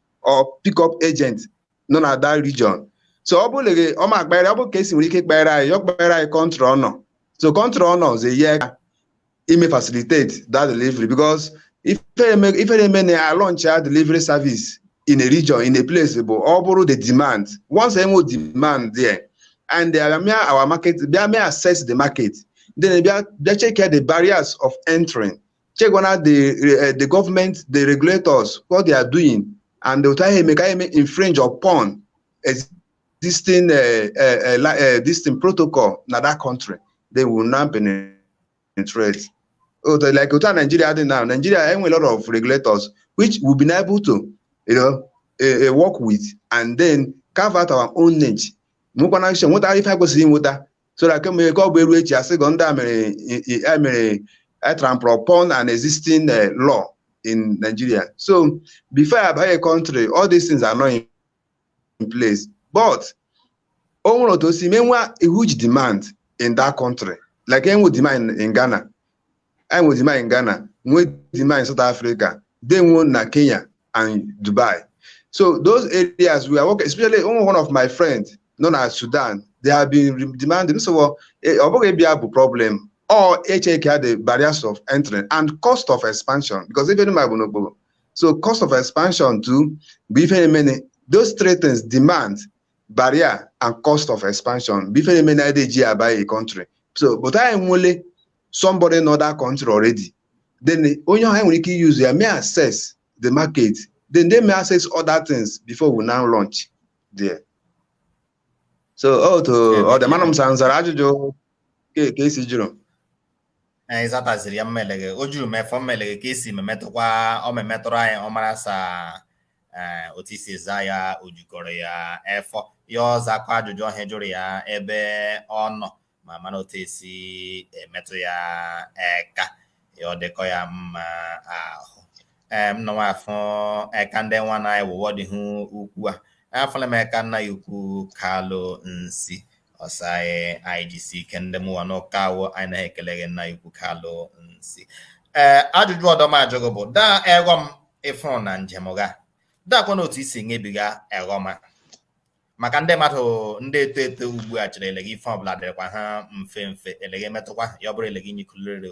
or pick up agent nọ na that region so ọ bụrụ gị ọma akpagharị ọ bụ KC nwere ike kọwara anyị ọ kọwara anyị country ọ nọ so country ọ nọ ọ so enye aka ime facilitate that delivery because ife na-eme na alaunch a delivery service in a region in a place bụ ọ bụrụ the demand once enwe demand there and bịa mee our market bịa mee assess the market then bịa check the barriers of entering checkwana the eh, the government the regulators what they are doing and otu ahụ eme ka anyị eme infringe upon existing eh, eh, eh, li- eh, existing protocol na that country then we now penetrate otu like otu a Nigeria dị now Nigeria enwe lot of regulators which we'll be able to you know eh, eh, work with and then carve out our own niche nwekwana action nweta ife anyị kwesịrị inweta so that kemgbe ka ọ bụ e ruo echi asị gọ ndị a mere i- i- a mere a trample upon an existing eh, law in Nigeria so before a baa a country all these things anọ in, in place but o nwere otu o si mee enwe huge demand in that country like enwe demand in Ghana anyị nwere demand in Ghana nwee demand in South Africa then nwee na Kenya and Dubai so those areas we are working especially one of my friends nọ na Sudan they have been demanding so ọ eh, bụghị ịbịa bụ problem ọ ịcheck the barriers of entering and cost of expansion because even my bonobo. So cost of expansion too, bụ ife na-eme. Those three things demand barrier and cost of expansion bụ ife na-eme na ede ji aba a country so but anyị nwele somebody nọ that country already then onye ahụ nwere ike use ya mee assess the market then e mee assess other things before we now launch there so otu ọ dị mana m sa- m zara ajụjụ KC jụrụ ị zataziri ya mma eleghị o juru m efọ mma eleghị KC memetụkwa ọ memetụrụ anyị ọ mara sa eh, otu i si za ya o jukọrọ ya efọ ya ọ zakọ ajụjụ ahụ a jụrụ ya ebe ọ nọ ma mara otu esi emetụ ya eka ya ọ dịkọ ya mma ahụ ee m nọ nwa afụ eka ndị nwa na anyị wụwọ dị hụ ukwu a afụla m eka nna ukwu kalụ nsi ọsọ anyị anyị jisi ike ndị mụwa n'ụka awụ anyị naghị ekele gị nna ukwu kalụ nsi ee ajụjụ ọdọ m ajụ ghị bụ daa ọghọm ị fụrụ na njem gha dakwa na otu i si nyebiga ọghọm a maka ndị mmadụ ndị eto eto ugbu a chere eleghị ife ọbụla dịrịkwa ha mfe mfe eleghị emetụkwa ya ọ bụrụ eleghị nyikulere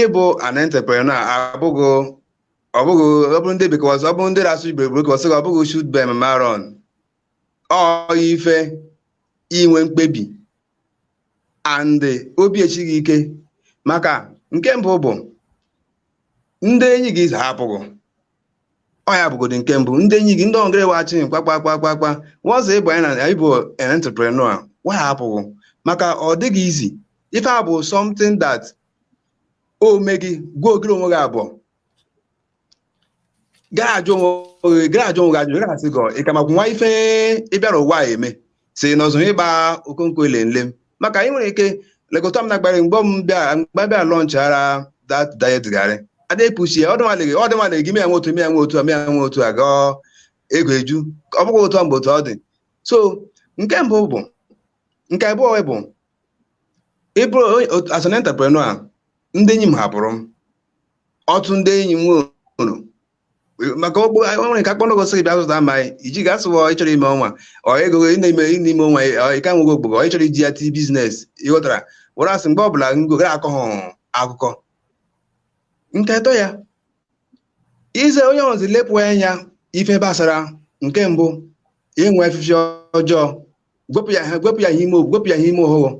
ịbụ an entrepreneur abụghị ọ bụghị ọ bụrụ ndị bekọs ọ bụrụ ndị na-asụ igbo igbo bekọs ọ bụghị shoot by maron ọ ife inwe mkpebi and obi echighị ike maka nke mbụ bụ ndị enyi gị hapụ ghị ọ ya bụgodo nke mbụ ndị enyi gị ndị ọgịrị wachi kpakpakpakpakpa once ị banye na ịbụ entrepreneur wa ahapụ ghị maka ọ dịghị easy ife a bụ something that o mee gị gwa ogiri onwe gị abụọ gaa ajụ onwe gị gaa ajụ onwe gị ajụ gaa asị gị ị ka makwu nwa ife ị bịara ụwa a eme si n'ọzọ ịgba okonkwo ile nle m maka anyị nwere ike lekọta m na gbara mgbe m bịa mgbe bịa launchara that diet garri ada epuchi ya ọdịnwaleghị ọdịnwaleghị gị mịa nwe otu mịa nwe otu a mịa nwe otu a gaa ego eju ọ bụghị otu a mgbe otu ọ dị so nke mbụ bụ nke abụọ bụ ị bụrụ onye- otu- as an entrepreneur ndị enyi m hapụrụ m ọtụ ndị enyi m nwere maka ọgbụ nwere ka akpọnọgọ sịrị bịa zụta ma iji ga asụwa ọ ịchọrọ ime ọnwa ọ ego gị na-eme n'ime ọnwa ọ ịka nwego ogbogbo ọ ịchọrọ iji ya tii business ị ghọtara were asị mgbe ọbụla ngo gara akọ ha akụkọ nke atọ ya ize onye ọzi lepụ anya ife gbasara nke mbụ inwe efifi ọjọọ gwepụ ya gwepụ ya ihe ime gwepụ ya ihe ime oghụghọ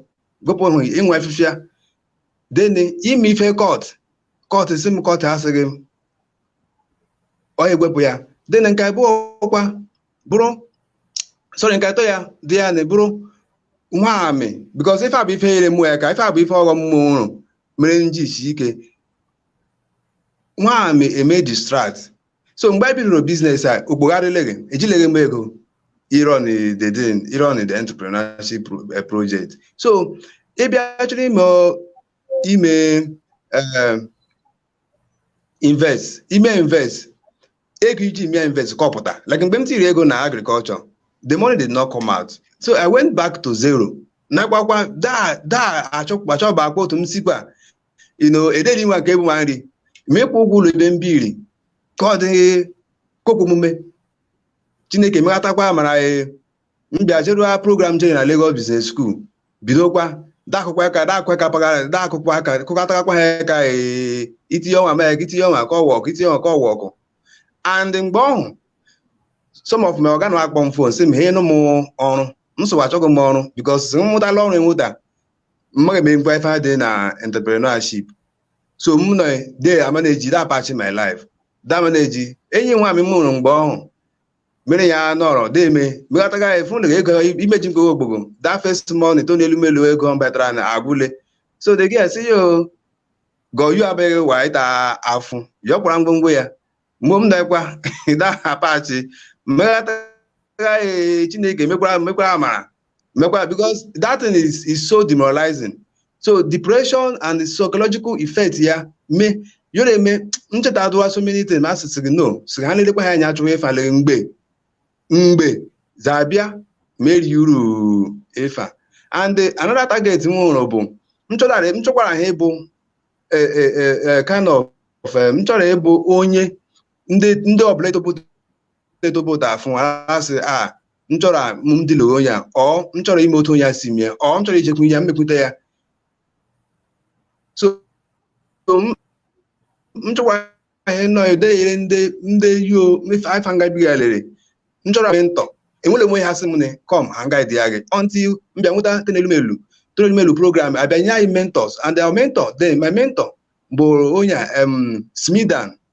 gwepụ hụ inwe efifi ya then ime ife kọt kọt si m kọt asịghị m ọ ewepụ ya then nke abụọ ọkwa bụrụ sorry nke atọ ya dị ya na bụrụ nwamị because ife a bụ ife nyere mụ eka ife a bụ ife ọghọm mụ hụrụ mere nji isi ike nwamị eme distract so mgbe anyị bidoro business a okpogharịleghị ejileghị m ego ị run the ị run the entrepreneurship pro- eh, project so ị bịa chọrọ ime ime eh, invest ime invest ego iji mee invest ka ọ pụta like mgbe m tiri ego na agriculture the money did not come out so i went back to zero nakwakwa daa daa achọba akpa otu m sikwa ino ederi nwa nke ebu ma nri ma ịkwụ ụgwọ ụlọ ebe m biri ka ọ dịghị kokwu omume chineke meghatakwa mara m bịa jerụa program jere na Lagos Business School bidokwa dakụkwa aka dakụkwa aka pagara dakụkwa aka kụkọtakwa ha aka ee, itinye ọnwa mee ka itinye ọnwa ka ọ wọkụ itinye ọnwa ka ọ wọkụ and mgbe ọhụ some of my oga na-akpọ m phone sị m he nụ m ọrụ m sịwa achọghị m ọrụ because m mụtala ọrụ enweta mmaghị eme ngwa ife ha dị na entrepreneurship so m nọ de ama na-eji da apachi my life da ama na-eji enyi nwa m mụrụ mgbe ọhụ mere ya nọrọ deme meghataga efu na ego imeji mkpeghe ogbogbo m that first money Tony Elumelu ego m batara na agwụle so the girl sị yo goyu abịaghị wa ịta afụ yọ kwara ngwongwo ya mgbe m na-ekwa ịda apachi meghataga chineke mekwara mekwara amara mekwa because that thing is, is so demoralizing so depression and the psychological effect ya me yọrọ eme ncheta adụwa so many things ma asịsị gị no sị ha na-elekwa ha anya achụwa ịfa lee mgbe mgbe zabịa meri uru ịfa and the- another target m nwere bụ m chọtara m chọkwara ha ịbụ eh, eh, eh, eh, kind of eh, m chọrọ ịbụ onye ndị ndị ọbụla etobodo etobodo afụ asị a m chọrọ a- m dị lụrụ onye a ọ m chọrọ ime otu onye a si mee ọ m chọrọ ijekwu ya mmekwute ya so so m m chọkwa ihe nọ edeyere ndị ndị yo mefe ife nga biga lere m chọrọ mentor enwele m onye ha sị m ne come ha m guide ya gị until m bịa nweta Tony Elumelu Tony Elumelu program abịa nye anyị mentors and our mentor then my mentor bụ onye a, em, SMEDAN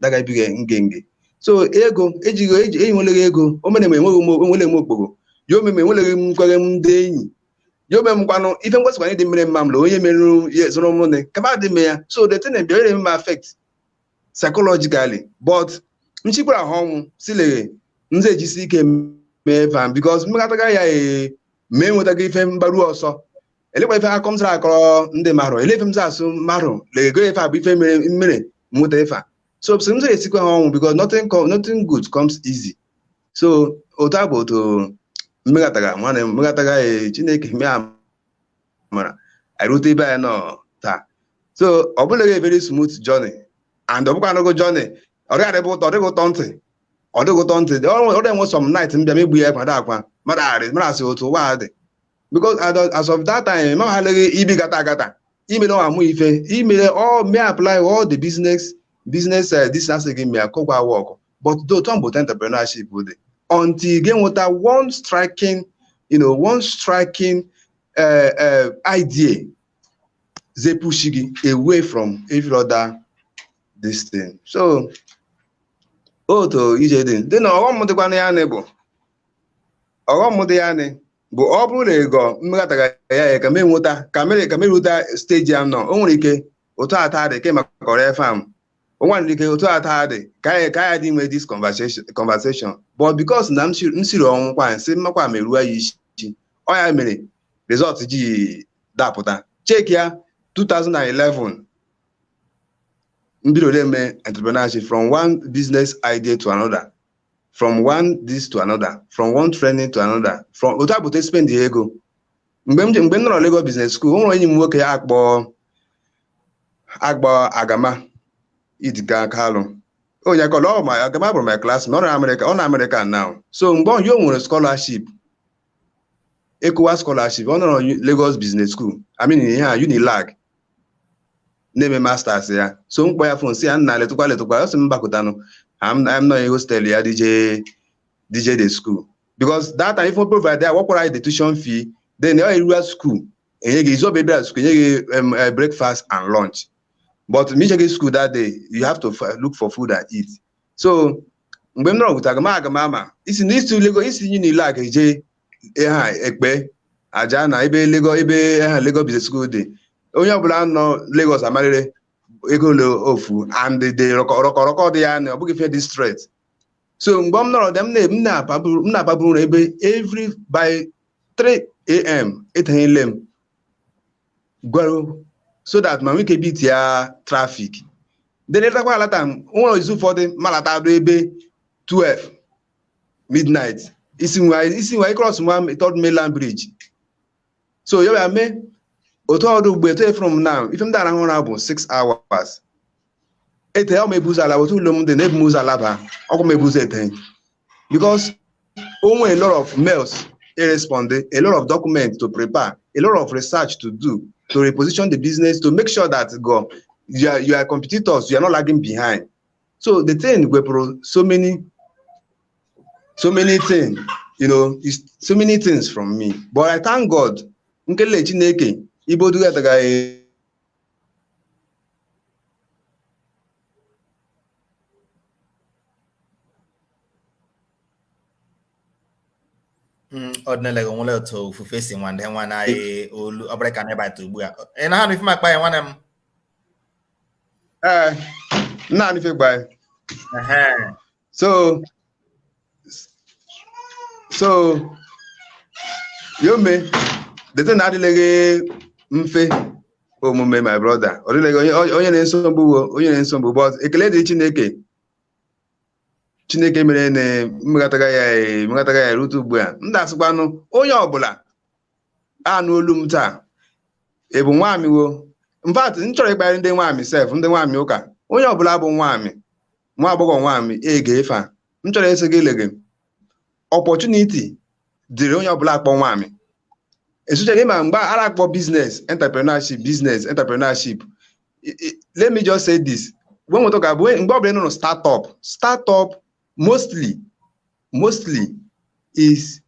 dagabiga ngenge so ego ejighị eji enweleghị ego o mere m enweghị m enwele m okporo ya ome m enweleghị m nkwere m ndị enyi ya ome m kwanụ ife ngwasịkwanye dị mmiri mma m na onye merụrụ ya zụrụ m nne kama adị m ya so the thing bịara eme m affect psychologically but m sikwara ha ọnwụ sileghe m ejisi ike mee van because mmekọtaga ya ee ma enwetaghị ife m gbaru ọsọ elekwa ife akọ m sara akọrọ ndị mmadụ ele ife m sara asị mmadụ lego ife a bụ ife mere m mere m mụta ife a so sị m sara esikwa ha ọnwụ because nothing co- nothing good comes easy so otu a bụ otu m meghatara nwanne m m meghatara eh, chineke mee amara anyị rute ibe anyị nọ taa so ọ bụleghị very smooth journey and ọ bụkwa anụgo journey ọ dịghị adịbụ ụtọ ọ dịghị ụtọ ntị ọ dịghị ụtọ ntị ọ dị enwe some night m bịa megbu ya ma da akwa mmadụ arị mmadụ asị otu ụwa a dị because as of that time ma ha leghị ibi gata agata imere amụ ife imere all may apply all the business business uh, this asị gị mee akọgwa work but though tom bụ entrepreneurship dị until ị ga-enweta one striking you know one striking uh, uh, idea dị e-push gị away from every other this thing so otu ije dị dị na ọghọm dịkwa na ya nị bụ ọghọm dị ya nị bụ ọ bụrụ na ịgọ m meghatara ya ya ka m enweta ka m eru ka m eruta steji m nọ o nwere ike otu ata dị ke maka ọrịa fam o nwere ike otu ata dị ka anyị ka anyị dị enwe this conversation conversation but because na m siri m siri ọnwụ kwa m sị m makwa meruo ya isi ọ ya mere result ji dapụta cheki ya 2011 m bido na-eme entrepreneurship from one business idea to another from one this to another from one training to another from otu a bụ otu e spend ya ego mgbe m je- mgbe m nọrọ Lagos Business School o nwere enyi m nwoke a kpọ a kpọ Agama Idika Kalụ onye akọrọ ọ ma Agama bụrụ my class ọ nọ Amerịka ọ nọ Amerịka now so mgbe ọ o nwere scholarship ECOWAS scholarship ọ nọrọ U- Lagos Business School I mean ihe a Unilag na-eme masters ya so m kpọ ya fon sị ya nna letụkwa letụkwa ọ sị m gbakutanụ am am nọ hostel ya dị eje dị eje the school because that time ife ọ provide ya wa kwara anyị the tuition fee then ọ erura school enye gị izu ị bịa bịara school enye gị um, uh, breakfast and lunch but ma i jeghị school that day you have to f- look for food and eat so mgbe m nọrọ gwụtara m aga m ama i si na i si Lagos i si Unilag eje ha Epe Ajah na ebe Lagos ebe ha Lagos Business School dị onye ọbụla nọ Lagos amarịrị ego ole ọ fu and the rọkọrọkọ dị ya na ọ bụghị ife dị straight so mgbe m nọrọ dị m na- m na-apaburu m na-apaburu ụra ebe every by 3 a.m. etanyele m gwara so that m ma nwee ike beat ya traffic then alatakwa alata m nwere izu ụfọdụ m alata do ebe 12 midnight i si nwa i si nwa ị cross nwa third mainland bridge so ya bịa mee otu ọ dị ugbu eto efere m na ife m dị araha ụra bụ 6 hours ete ọ ma ebu ụzọ alaba otu ụlọ m dị na ebu m ụzọ alaba ọ kwa m ebu ụzọ ete because o nwere a lot of mails e respond a lot of documents to prepare a lot of research to do to reposition the business to make sure that gị your your competitors you are not lagging behind so the thing wepụrụ so many so many things you know is so many things from me but i thank god nkele chineke ibodu atagaghị Mm, ọdịnala gị nwere otu ofufe si nwa ndị nwa na onye ọbụla ka na-ebata ugbu a ị na-anụ ife m akpa ya nwanne m ee na-anụ ife ị kpa anyị Ehe. so so yome dete na adịleghị mfe omume my brother ọ dịleghị o nyere nsogbu wo o nyere nsogbu but ekele dị chineke chineke mere na m meghatara ya eh, m meghatara ya rute ugbu a m da-asịkwanụ onye ọbụla anụ olu m taa ị bụ nwaamị wo in fact m chọrọ ịkpara ndị nwaamị sef ndị nwaamị ụka onye ọbụla bụ nwaamị nwa agbọghọ nwaamị ege ife a m chọrọ ịsị gị elege opportunity dịrị onye ọbụla akpọ nwaamị especially ịma mgbe a na-akpọ business entrepreneurship business entrepreneurship I- I- let me just say this when we talk about mgbe ọbụla ị nụrụ startup startup mostly mostly is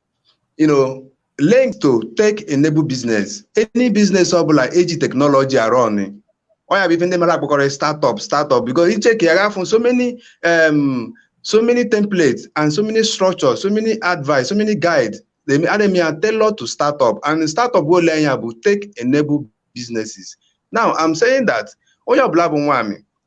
you know linked to tech enabled business any business ọbụla eji technology a-run ọ ya bụ ife ndị mmadụ akpọkarị startup startup because ị check ya ị ga-afụ so many um, so many templates and so many structures so many advice so many guides a na-eme ya tailor to startup and startup ole anya bụ tech enabled businesses now i'm saying that onye ọbụla bụ nwaamị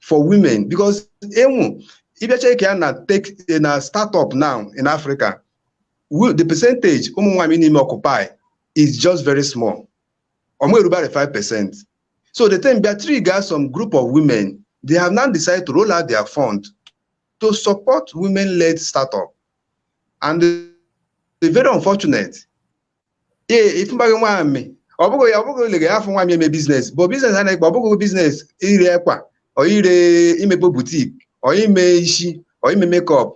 for women because even ị bịa check ya na tech na startup now in Africa wo- the percentage ụmụ nwaanyị na-eme occupy is just very small ọmụ erubere 5 percent so the thing bịa trigger some group of women they have now decided to roll out their fund to support women-led startup and it's very unfortunate ee ị fụbaghị nwaamị ọ bụghị ya ọ bụghị ole ị ga-afụ nwaamị eme business bụ business a na-ekpe ọ bụghị business ire akwa or ire imepe boutique or ime isi or ime makeup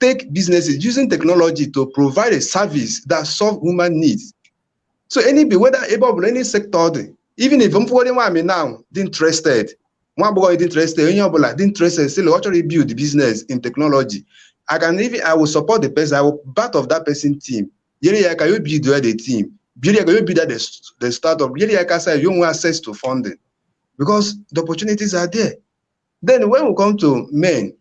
tech businesses using technology to provide a service that solve human needs so any be whether ebe ọ bụla any sector ọ dị even if m fụgharị nwaamị now dị interested nwa agbọghọ dị interested onye ọbụla dị interested sịlị ọ chọrọ build business in technology I can even I will support the person I will part of that person team nyere ya aka build the the team nyere ya aka build the the startup nyere ya aka sị ya nwee access to funding because the opportunities are there then when we come to men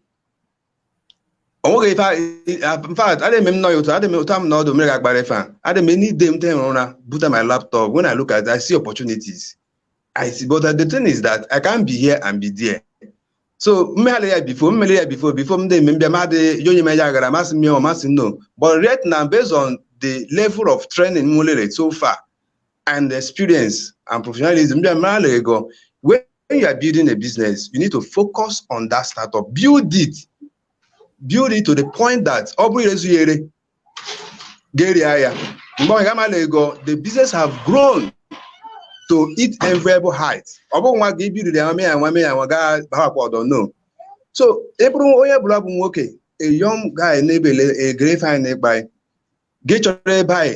onweghị ife in fact adị m nọ ya otu adị m otu m na ọdụ mere ga-agbara ife a adị m any day m tehụrụ ụra buta my laptop when I look at it, I see opportunities I see but the thing is that I can't be here and be there so m meghala ya before m mele ya before before m dị mbịa ma dị onye m ya agara masị m ya ọ masị no but right now based on the level of training m nwelere so far and experience and professionalism m bịa mara ego when you are building a business you need to focus on that startup build it build it to the point that ọ bụrụ irezu ya ere ga-eria ya mgbe ọ ga-amala ego the business have grown to it enviable height ọ bụghị nwa gị ibiriri ya nwame ya nwame ya nwa gaa bahakwa ọdọ no so ị bụrụ onye ọbụla bụ nwoke a young guy na-ebele a grey fine ịkpa anyị gị chọrọ ebe anyị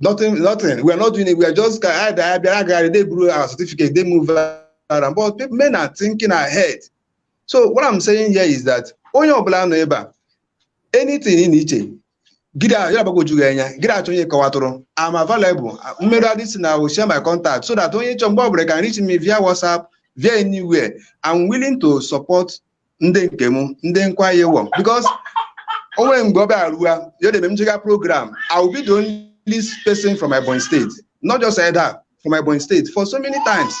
nothing nothing we are not doing it we are just ka anyị da abịa agagharị they buru our certificate they move around but people, men are thinking ahead so what i'm saying here is that onye ọbụla nọ ebe a anything ị na-iche gị dị ahụ ya gbagwoju gị anya gị dị achọ onye kọwatụrụ am available mmerụ adị si na I will share my contact so that onye chọ mgbe ọbụla can reach me via whatsapp via anywhere i'm willing to support ndị nke m ndị nkwa ya ewom because o nwere mgbe ọ bịara ruo ya debe m jega program I will be the only person from Ebonyi State not just Edda from Ebonyi State for so many times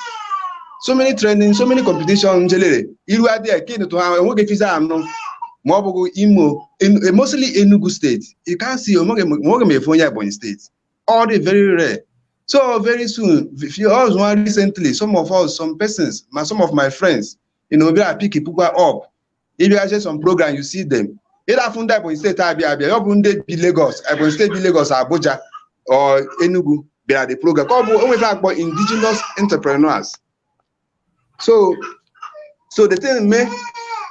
so many training so many competition m jelere iru adịghị ka ịnụtụ ha enweghị fiza anụ ma ọ bụghị Imo eh, mostly Enugu State you can see o nweghị m afụ onye Ebonyi State ọ dị very rare so very soon if you or recently some of us some persons ma some of my friends ị na ọbịa pick pickwa up ịbịazie some program you see them ị da afụ ndị Ebonyi State abịa abịa ọ bụ ndị bi Lagos Ebonyi State bi Lagos Abuja or Enugu bịara the program ka ọ bụ onwefe akpọ indigenous entrepreneurs so so the thing mee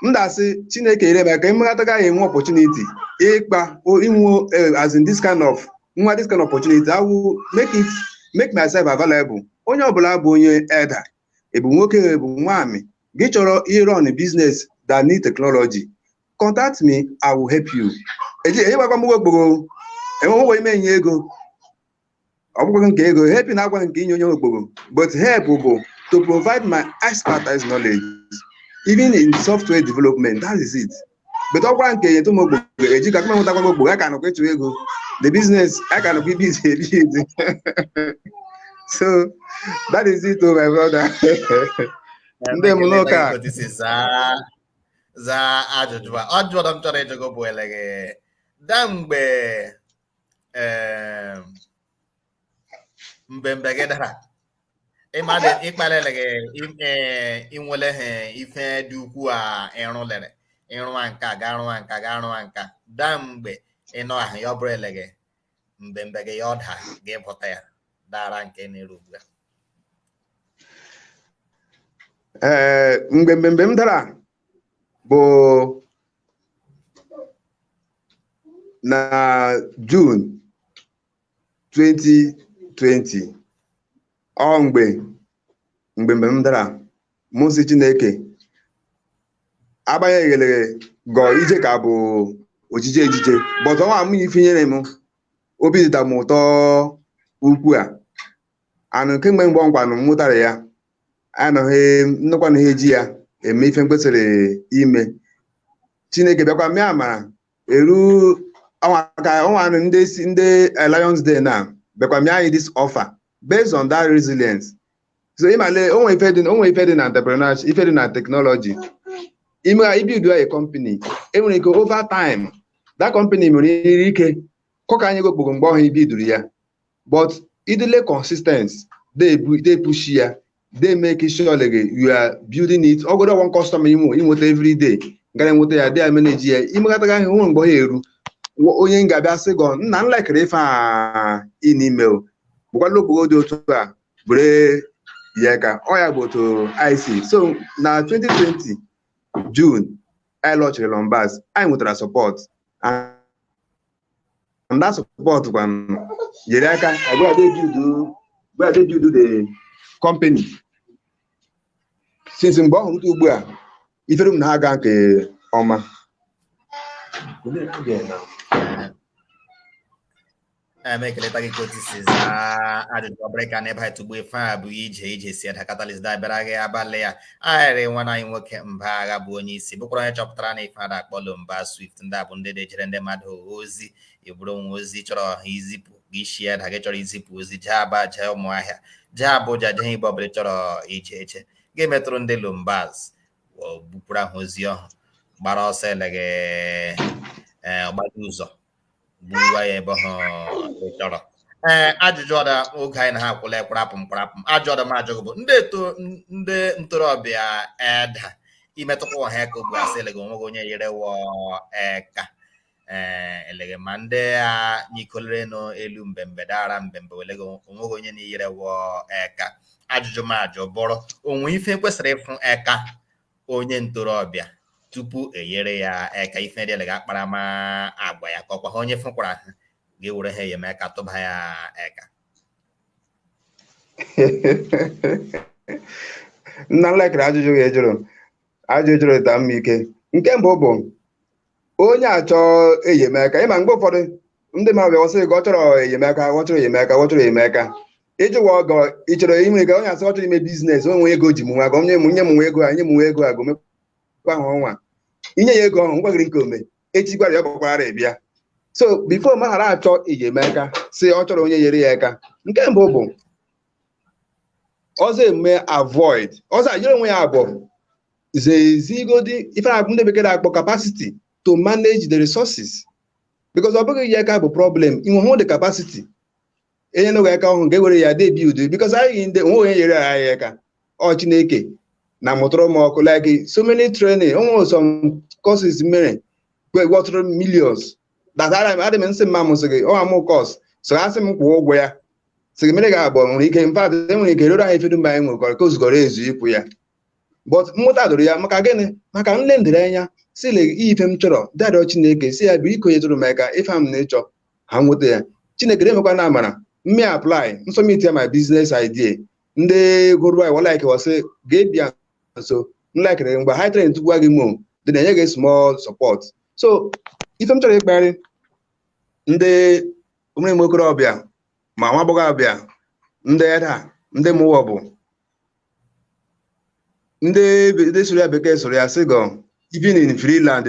m dasị Chineke ire maka ịmata gaghị enwe opportunity ịkpa inwe eh, as in this kind of nwa this kind of opportunity I will make it make myself available onye ọbụla bụ onye Edda ị bụ nwoke ị bụ nwaanyị gị chọrọ irun business that need technology contact me i will help you eji ejighịkwa m okpogho enwe nwe ime enye ego ọ bụkwa nke ego help na agwa nke inye onye okpogho but help bụ to provide my expertise knowledge even in software development that is it but ọkwara nke enyetụ m okpogho eji ka kụmenwụtakwa m okpogho a ka nọkwa ịchụ ego the business a ka nọkwa ibuild ebuild so that is it o oh, my brother ndị m n'ụka zaa ajụjụ a ọ jụrụ m chọrọ ịjụ gị bụ eleghị da mgbe mbembe gị dara mmadụ ịkpalele gị inwele ha ife dị ukwuu a ịrụlere ịrụwa nka ga arụwa nka ga arụwa nka daa mgbe ịnọ ahụ ya ọ bụrụ eleghị mbembe gị ya ọ daa gị pụta ya dara nke na-eru ugbu a ee mgbe mbembe m dara bụ na June 2020 ọ mgbe mbembe m dara m sị Chineke agbanyeghịrị gọ ije ka bụ ojije ejije but ọnwa m ife nyere m obi dịda m ụtọ ukwu a and kemgbe mgbe ọnkwanụ m mụtara ya anọghị nnukwanụ ha eji ya eme ife m kwesịrị ime chineke bịakwa mee amara eru ọnwa anọ ndị Lions Den na bịakwa mịa anyị this offer based on that resilience so ịmale onwe ife dị onwe ife dị na entrepreneurship ife dị na technology ime ibiduru a company enwere ike over time that company nwere ike kọka anyị gị okpogho mgbe ọhụ i biduru ya but ị dịle consistent dey push ya dey make sure eleghị you are building it ọ bụgodu one customer inwe inweta every day gara enweta ya dey manage ya imekata ahụ nwe mgbe ọ ga-eru Wo- onye ga-abịa sị gọ nna m lekere ife a ị n'ime o bụkwala okpogho dị otu a bụrụ ya ka ọ ya bụ otu I see so na 2020 june anyị launchiri Lombaz anyị nwetara support and and that support kwanụ nyere aka agwa debudu gwa debudu the company since mgbe ọhụ rute ugbu a ifere m na-aga nke ọma em ekeleta gị ka otu i si zaa ajụjụ ọbụrụ ka n'ebe anyị tugbu ife a bụ ije ije si ada Catalyst da-abịara gị abalị a ahịrị nwanne anyị nwoke Mba Agha bụ onye isi bụkwara onye chọpụtara na ife a da-akpọ Lombaz Swift ndị a bụ ndị na-ejere ndị mmadụ ozi ọ bụrụ i nwe ozi chọrọ izipụ gị isi ya da gị chọrọ izipụ ozi jee aba jee ụmụahịa jee abụja jee ibe ọbụla chọrọ ije ee ga-emetụrụ ndị Lombaz bupụrụ ahụ ozi ọhụ gbara ọsọ eleghị mgbada ụzọ buba ya ebe ọhụ ị chọrọ ee eh, ajụjụ ọda oge anyị na ha akwụla ekwarapụ mkparapụ ajụ ọda m ajụ gị bụ ndị eto ndị ntorobịa eda imetụkwa ụwa ha aka ugbu a sị eleghị onwe gị onye yere wọ eka ee eh, eleghị ma ndị a nyikolere nụ elu mbembe dara mbembe eleghị onwe gị onye na-eyere wọ eka ajụjụ m ajụ bụrụ onwe ife kwesịrị ịfụ eka onye ntorobịa tupu e nyere ya aka ife ndị ga akparamagwa ya ka ọkwa ha onye fụkwara ha ga-ewere ha enyemaka tụba ya aka nna nlekere ajụjụ ị jụrụ ajụjụ ị jụrụ ịta mma ike nke mbụ bụ onye achọ enyemaka ị ma mgbe ụfọdụ ndị mmadụ bịa sị gị ọ chọrọ enyemaka ọ chọrọ enyemaka ọ chọrọ enyemaka ị jụwa ọgọ ị chọrọ inwe ego onye asị ọ chọrọ ime business o nwe ego ji m nwa gị onye m nye m nwa ego a nye m nwa ego a gomekwa ahụ ọnwa i nye ya ego ahụ ngwaghịrị nke o me echi gwara ya ọ gbakwara ya bịa so before ma ghara achọ enyemaka sị ọ chọrọ onye nyere ya aka nke mbụ bụ ọzọ emume avoid ọzọ anyere onwe ya abụọ zezigodi ife a ndị bekee na-akpọ capacity to manage the resources because ọ bụghị ya ka bụ problem i nwehụ the capacity e nye n'oge aka ọhụrụ nke were ya debi udo because anyị ndị o nwe onye nyere anyị aka ọ Chineke na mụtụrụ m ọkụ like so many training o nwe some courses mere worth millions that adị m nsị mma m sị gị ọ amụ course so asị m kwụọ ụgwọ ya sị gị mere ga-abụ nwere ike in fact e nwere ike rere anyị ife dum be anyị nwekọrọ ka o zugọrọ ezu ịkwụ ya but mmụta doro ya maka gịnị maka nle ndere anya si le ife m chọrọ dị arịọ chineke sị ya biko nyetụrụ m aka ife m na-achọ ha nweta ya chineke na-emekwa na amara m mee apply m submit ya my business idea ndị gụrụ anyị wa like wa sị ga-abịa nso nlekere mgbe ha train tupu gị mo dị na enye gị small support so ife m chọrọ ịkparị ndị ụmụnne okorobịa ma nwa agbọghọbịa ndị Edda ndị mụwa bụ ndị be- ndị sụrụ ya bekee sụrụ ya sị gọ even in free land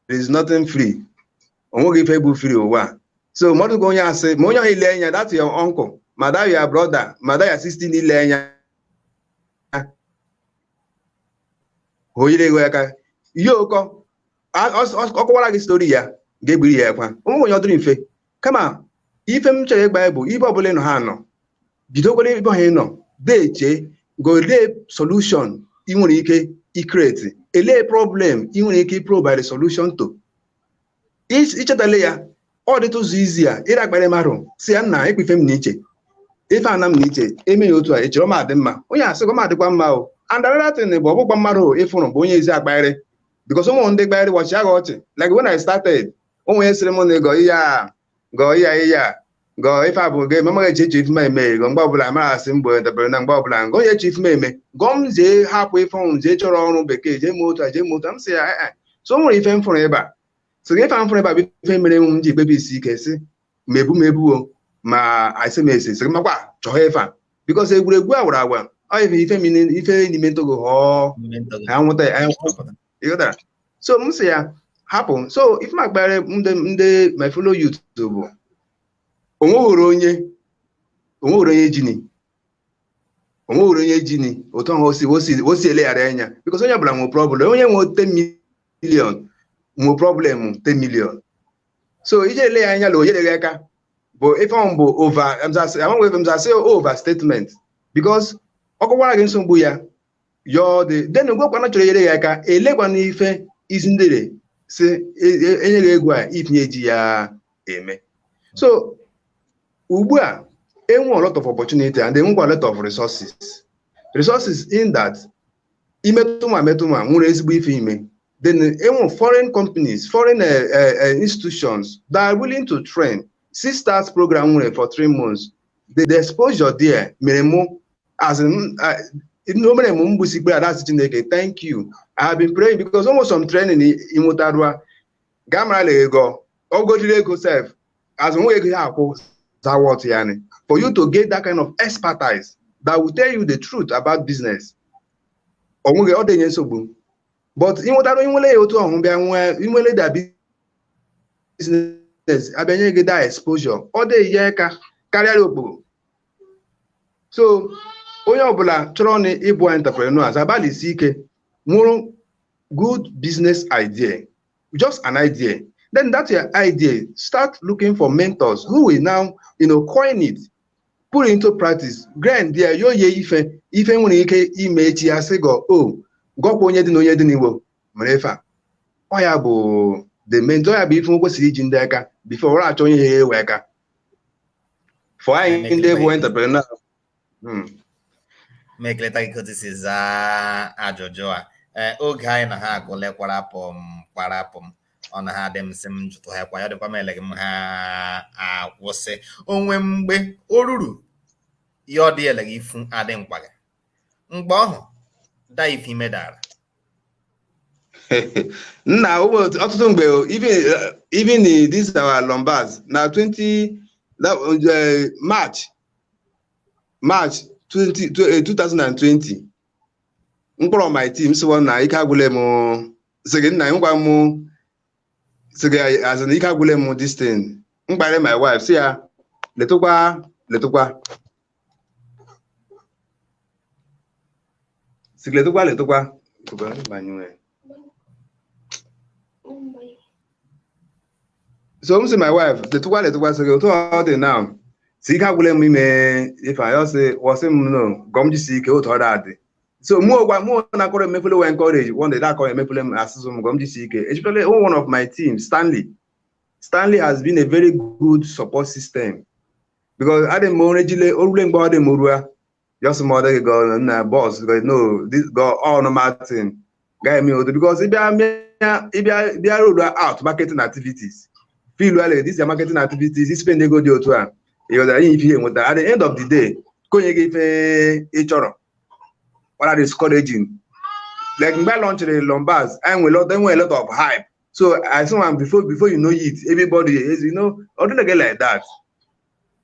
there is nothing free o nweghị ife bụ free ụwa a. so mmadụ gwa onye asị ma onye ahụ i le anya that your uncle ma that your brother ma that your sister i le anya o yere gị aka ihe ụkọ a- ọ- ọ- ọ kọwara gị story ya ga-eberi ya ekwa o nweghị onye ọ dịrị mfe kama ife m chọrọ ịgwa ya bụ ibe ọbụla ị nọ ha nọ bidokwara ebe ahụ ị nọ deeche golee solution ị nwere ike icreate elee problem ị nwere ike provide solution to Ich- ichetala ya ọ dịtụ ụzọ izi ya ịra akpara mmadụ sị ya nna ịkpa ife m na iche ife ana m na iche e mee ya otu a i chere ọ ma adị mma onye asị gọ ma adịkwa mma o and another thing bụ ọ bụghịkwa mmadụ ị fụrụ bụ onye ezi akparị because o nwere ndị ị kparị wọ chịa gị ọchị like when I started onwe onye sịrị m na ịgọ ihe a gọọ ihe a ihe a gọọ ife abụ gị eme eche eche ife eme gọ mgbe ọbụla mara asị mgbe dabere na mgbe ọbụla ngọ onye eche ife eme gọọ m jee hapụ ife ọnwụ jee chọrọ ọrụ bekee jee mee otu a jee mee otu a m sị ya ee so nwere ife m fụrụ ịba so gị ife m fụrụ ịba bụ ife mere m ji ekpebi isi ike sị ma ebu m ebuo ma asị m esi sị makwa chọọ ife a because egwuregwu a wara agwa ọ ife ife n'ime ntogo họọ anwụta ịghọtara so m sị ya hapụ so ife m akpara ndị ndị my fellow youth bụ onweghịrị onye onweghịrị onye jini onweghịrị onye jini otu ahụ osi osi osi eleghara anya because onye ọbụla nwe problem onye nwe 10 million nwe problem 10 million so ije ele ya anya na ọ nyere gị aka bụ ife ahụ bụ over amaghị ebe m za-asị overstatement because ọ kọkwara gị nsogbu ya yọọ dị then gwekwana chọrọ nyere ya aka elekwana ife isi ndere si e- e- enye gị ego a itinye ji ya eme so ugbu a enwe a lot of opportunity and enwekwa a lot of resources resources in that imetụ ma metụ ma nwere ezigbo ife ime then enwe foreign companies foreign eh, eh, eh, institutions that are willing to train Seedstars program nwere for three months the, the exposure there mere mụ as in uh, no mere m gbusi ikpere ala sị chineke thank you i have been praying because ụmụ some training ị nwụtara ị ga-amara na ego ogojiri ego sef as nwa ego ya akwụ za worth ya ni for you to get that kind of expertise that will tell you the truth about business onweghị ọ dịnye nsogbu but ịnwụtarụ inwele ya otu ọhụ bịa nwee inwele da business a bịa nye gị the exposure ọ dịghị ya ka karịa okporo so onye ọbụla chọrọ na ịbụ entrepreneur agbalịsi ike nwụrụ good business idea just an idea then that your idea start looking for mentors who will now you know, coin it put it into practice grind ya yo ye ife ife nwere ike ime echi ya sị gọ o oh, gọkwa onye dị na onye dị n'igbo mere ife a ọ ya bụ the mentor ya bụ ife nwe kwesịrị iji ndị aka before were achọ onye ya ewe aka for anyị ndị bụ entrepreneur Hmm. m ekeleta gị ka otu i si zaa ajụjụ a ee oge anyị na ha agwụle kwarapụ m kwarapụ m ọ na ha dị m sị m jụtụ ha kwa ya dịkwa m eleghị m ha akwụsị onwe mgbe o ruru ya ọ dị eleghị ifu adị mkpa gị mgbe ọhụ da ife ime dara nna ọtụtụ mgbe even uh, this our Lombars na 20 uh, March March 2020 uh, m kpọrọ my team sị wọ nna ike agwụle m sị gị nna gwa m sị gị as in ike agwụle m this thing m gwara my wife sị ya letụkwa letụkwa si letụkwa letụkwa Tụkwa, banyere. so m sị my wife letụkwa letụkwa sị gị otu ọ dị na si ike agwụla m ime ife anyị ọ sị wọ sị m no ka m jisi ike otu ọ dị so mụ gwa mụ na-akọrọ emefele wee encourage one day na-akọrọ emefele m a sị sị m ka m jisi ike especially one of my team Stanley Stanley has been a very good support system because adị m onye jile o rule mgbe ọ dị m rua just ma ọ dịghị gọ na bọs no this gọ all normal thing gaghị eme odo because ịbịa mịa- ịbịa bịa roll out marketing activities feel well this is marketing activities ispend ego dị otu a ị ghọtara ihe ife ihe nweta at the end of the day ka o nye gị ife ị chọrọ what are discouraging like mgbe a launchịrị lombas anyị nwere lot enwe lot of hype so as one before before you know it everybody is you know ọ dịghị gị like that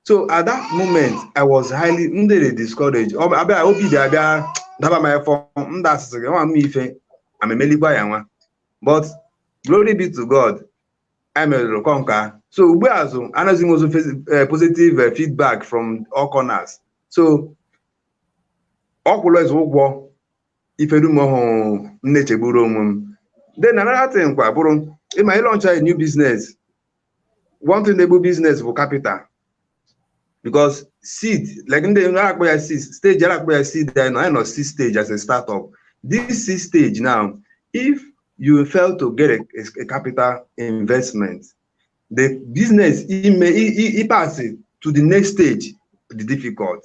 so at that moment i was highly ndị dey discouraged Ọ bụ- abịa obi dị abịa daba m efọ ndị a sị sị gị nwa m ife amemelikwa ya nwa but glory be to god a mezirị conquer so ugbu azị anyị na-enwezi posi- eh, positive eh, feedback from all corners so ọ kwụlezi ụgwọ ife dum ọhụ m na-echegburu onwe m then another thing kwa bụrụ ị ma ịlauncha a new business one thing na-egbu business bụ capital because seed like ndị a na-akpọ ya seed stage a na-akpọ ya seed anyị nọ anyị nọ seed stage as a startup this seed stage now if you fail to get a, a capital investment the business ime i- i- ịpass to the next stage dị difficult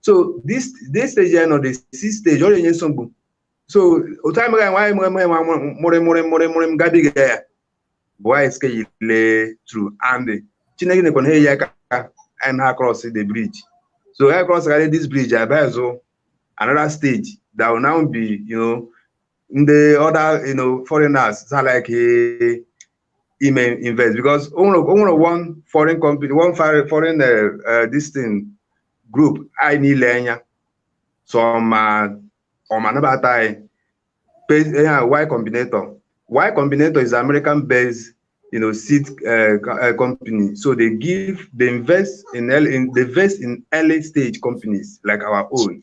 so this this stage anyị nọ the seed stage ọ na-enye nsogbu so otu anyị mega nwaanyị mụrụ mụrụ nwa mụrụ mụrụ mụrụ mụrụ m gabiga ya bụ anyị scale through and chineke nyekwara anyị aka anyị na cross the bridge so anyị cross karị this bridge a bịazi another stage that will now be you know ndị other you know foreigners za like eh, ime invest because o nwere o nwere one foreign company one foreign foreign uh, uh, this thing group anyị niile anya so ma ọ ma nabata anyị Pe- eh, ah, y combinator y combinator is american based you know seed uh, co- uh, company so they give they invest in early, in they invest in early stage companies like our own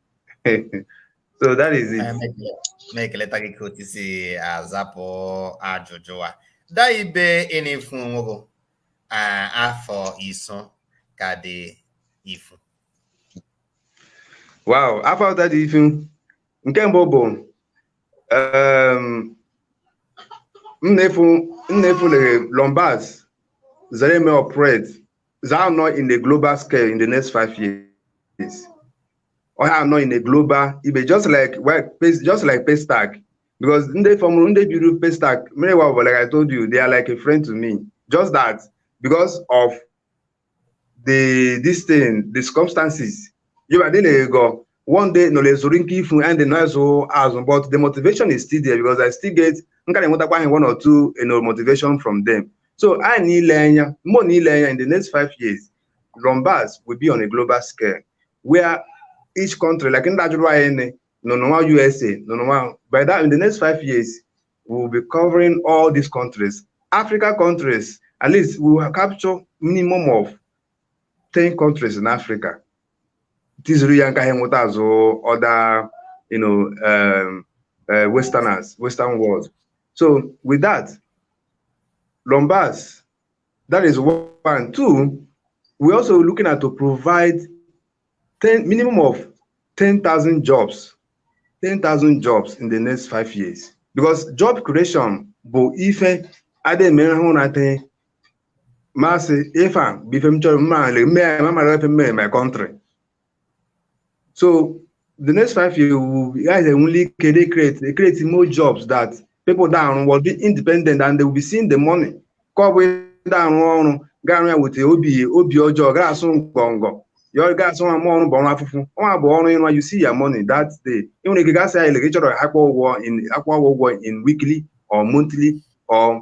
so that is it. na-ekeleta gị ka otu i si azapụ ajụjụ a ndaa ibe ị na-afụ onwe gị afọ iso ka dị ifu wow afọ ka dị ifu nke mbụ bụ m na-afụ lere lombas zere me operate zaa anọ in the global scale in the next five years ọ ha anọ in the global ibe just like well, pace- just like pestac because ndị fọmụrụ ndị biri pestac mmiri wa like i told you they are like a friend to me just that because of the this thing the circumstances you are dealing ego one day nọ ezuru nke ifu and nọ ezụ azụ but the motivation is still there because I still get nka na-enwetakwa anyị one or two you know, motivation from them so anyị niile anya mmụọ niile anya in the next five years Lombas will be on a global scale where each country like ndị ajụrụ anyị nị nọ n'ụwa USA nọ n'ụwa by that in the next five years we will be covering all these countries Africa countries at least we will capture minimum of 10 countries in Africa tizuru ya nka ha enweta azụ other you know um, uh, westerners western world so with that Lombas that is one two we're also looking at to provide 10 minimum of 10,000 jobs 10,000 jobs in the next five years because job creation bụ ife adịghị eme hụ na adịghị masị ife a bụ ife m chọrọ mma ale mme ya ma mara ife mme my country so the next five years we guys enwele ike dey create dey create more jobs that people da arụ will be independent and they will be seeing the money ka ọ bụ ịda arụ ọrụ ga arụ ya weta obi obi ọjọọ ga asụ ngọngọ ya ga asụ nwa ọrụ bụ ọrụ afụfụ nwa bụ ọrụ ị rụ you see your money that day ị nwere ike gasị ya ile gị chọrọ akpọ ụgwọ in akpọ ụgwọ in weekly or monthly or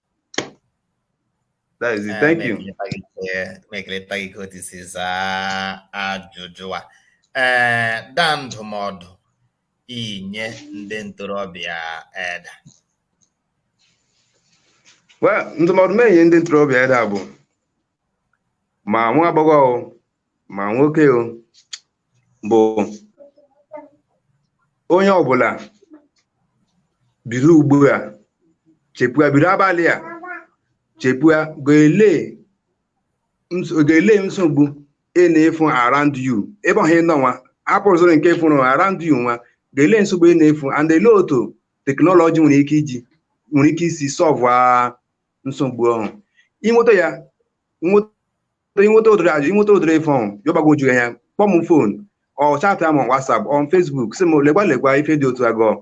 That is it. Thank you. M ekeleta gị k'otu i si za ajụjụ a. Ee, ndaa ndụmọdụ i nye ndị ntorobịa Edda. Well, ndụmọdụ m enye ndị ntorobịa Edda bụ ma nwa agbọghọ o ma nwoke o bụ onye ọbụla biri ugbu a chepụa biri abalị a chepụa ga-ele ns- ga-ele nsogbu ị na-afụ around you ebe ọhụ ị nọ nwa apụrụzụrụ nke ị fụrụ around you nwa ga-ele nsogbu ị na-afụ and ele otu teknọlọji nwere ike iji nwere ike isi sọlvụ nsogbu ọhụ i nweta ya i nweta ụdịrị ajụ i nweta ụdịrị ife ọhụ ya gbagwoju ya kpọọ m phone or chatịa m WhatsApp or Facebook sị m lekwa lekwa ife dị otu a gọọ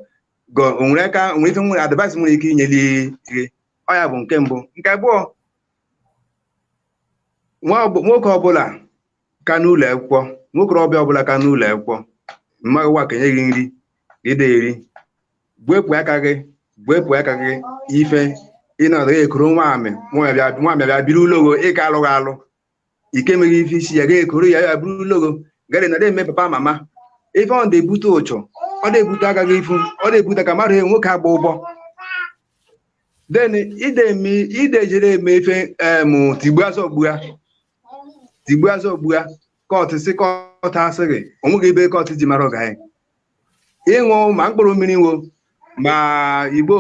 gọọ o nwere aka o nwere ife nwere advice nwere ike inyeli gị ọ ya bụ nke mbụ nke abụọ nwa ọbụ- nwoke ọbụla ka n'ụlọ akwụkwọ nwokorobịa ọbụla ka n'ụlọ akwụkwọ mmaghị nwa ka enye gị nri i de eri gwepụ aka gị gwepụ aka gị ife ịnọdụ gị ekoro nwa amị nwa bịa nwa amị bịa biri ụlọ ogo ịka alụghị alụ ike meghị ife isi ya ga-ekoro ya ya biri ụlọ ogo gari na eme papa mama ife ọ na-ebute ụchọ ọ na-ebute aka gị ifu ọ na-ebute ka mmadụ hụ nwoke agba ụgbọ then i de eme i de jere eme ife m tigbua zọgbua tigbuazi ogbua kọtụ si kọtụ asịghị onweghị ebe kọtụ ji mara ọga anyị ịṅụ ma mkpụrụ mmiri wo ma igbo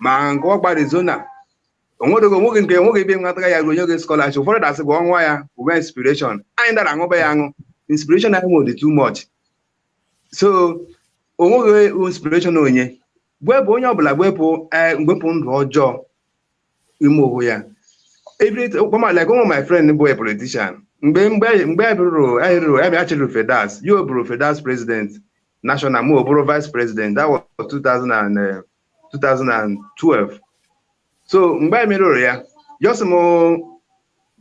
ma nke ọgba arizona onwedoghị onweghị nke onweghị ebe nwataga ya onye gị scholarship ụfọdụ ga-asị gị ọnwa ya uwe inspiration anyị dara aṅụba ya aṅụ inspiration anyị nwere too much so onweghị inspiration onye gwepụ onye ọbụla gwepụ ee gwepụ ndụ ọjọọ ime ụgwụ ya like ụmụ my friend bụ a politician mgbe mgbe mgbe anyị rụrụ anyị rụrụ anyị achịrị fedas ya o bụrụ fedas president national ma o bụrụ vice president that was 2000 2012 eh, so mgbe anyị merụrụ ya asị m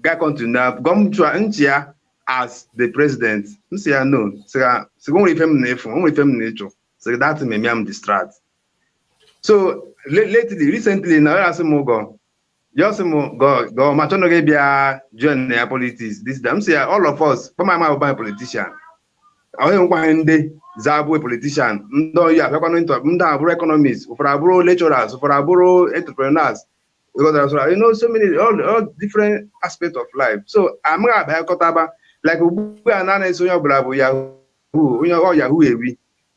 ga continue na gọ m nọchie ya as the president m sị ya no sị ya o nwere ife m na-eme nwere ife m na-ịchụ sị ya that may me am distract so le- lately recently na ya asị m gọ ya sị m gọ gọ ma chọnụ gị bịa join ya politics this time m sị ya all of us kpọma ama bụ anyị politician o nwekwa ndị za abụ politician ndị oyi abịakwanụ ntọ ndị abụrụ economists ụfọdụ abụrụ lecturers ụfọdụ abụrụ entrepreneurs you got that, so, you know so many all, all different aspects of life so amaghị abịakọtaba like ugbu a na-ana-eso onye ọbụla bụ yahoo onye ọ yahoo ewi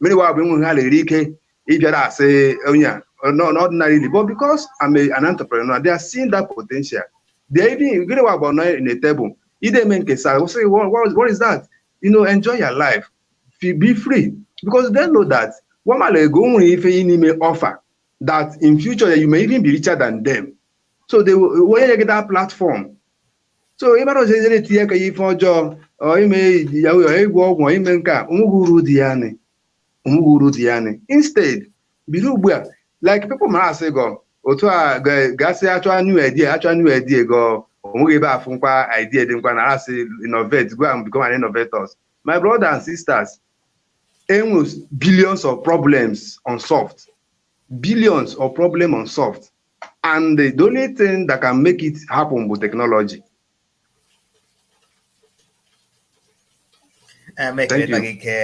many wa bụ enweghị ha na-eri ike ịbịara asị onye a no- no ordinarily but because I'm a, an entrepreneur they are seeing that potential they are even gị na wa bụ nọ in a table ide eme nkesa we say what, what, what is that you know enjoy your life Fe- be free because they know that wa amago nwere ife ị na-eme offer that in future you may even be richer than them so they will- onye nye gị that platform so ịmara ọzọ ejere etinye aka ya ife ọjọọ ọ ime iji ya ụyọ ịgwọ ọgwụ ọ ime nke a onweghị uru dị ya nị onweghị uru dị ya nị instead bido ugbu a like people ma asị gọ otu a ga- gasị achọ new idea achọ new idea gọ onweghị ebe afụ nkwa idea dị nkwa na asị innovate go and become an innovators my brother and sisters e nwe billions of problems unsolved billions of problem unsolved and the only thing that can make it happen bụ technology emeketa gị ke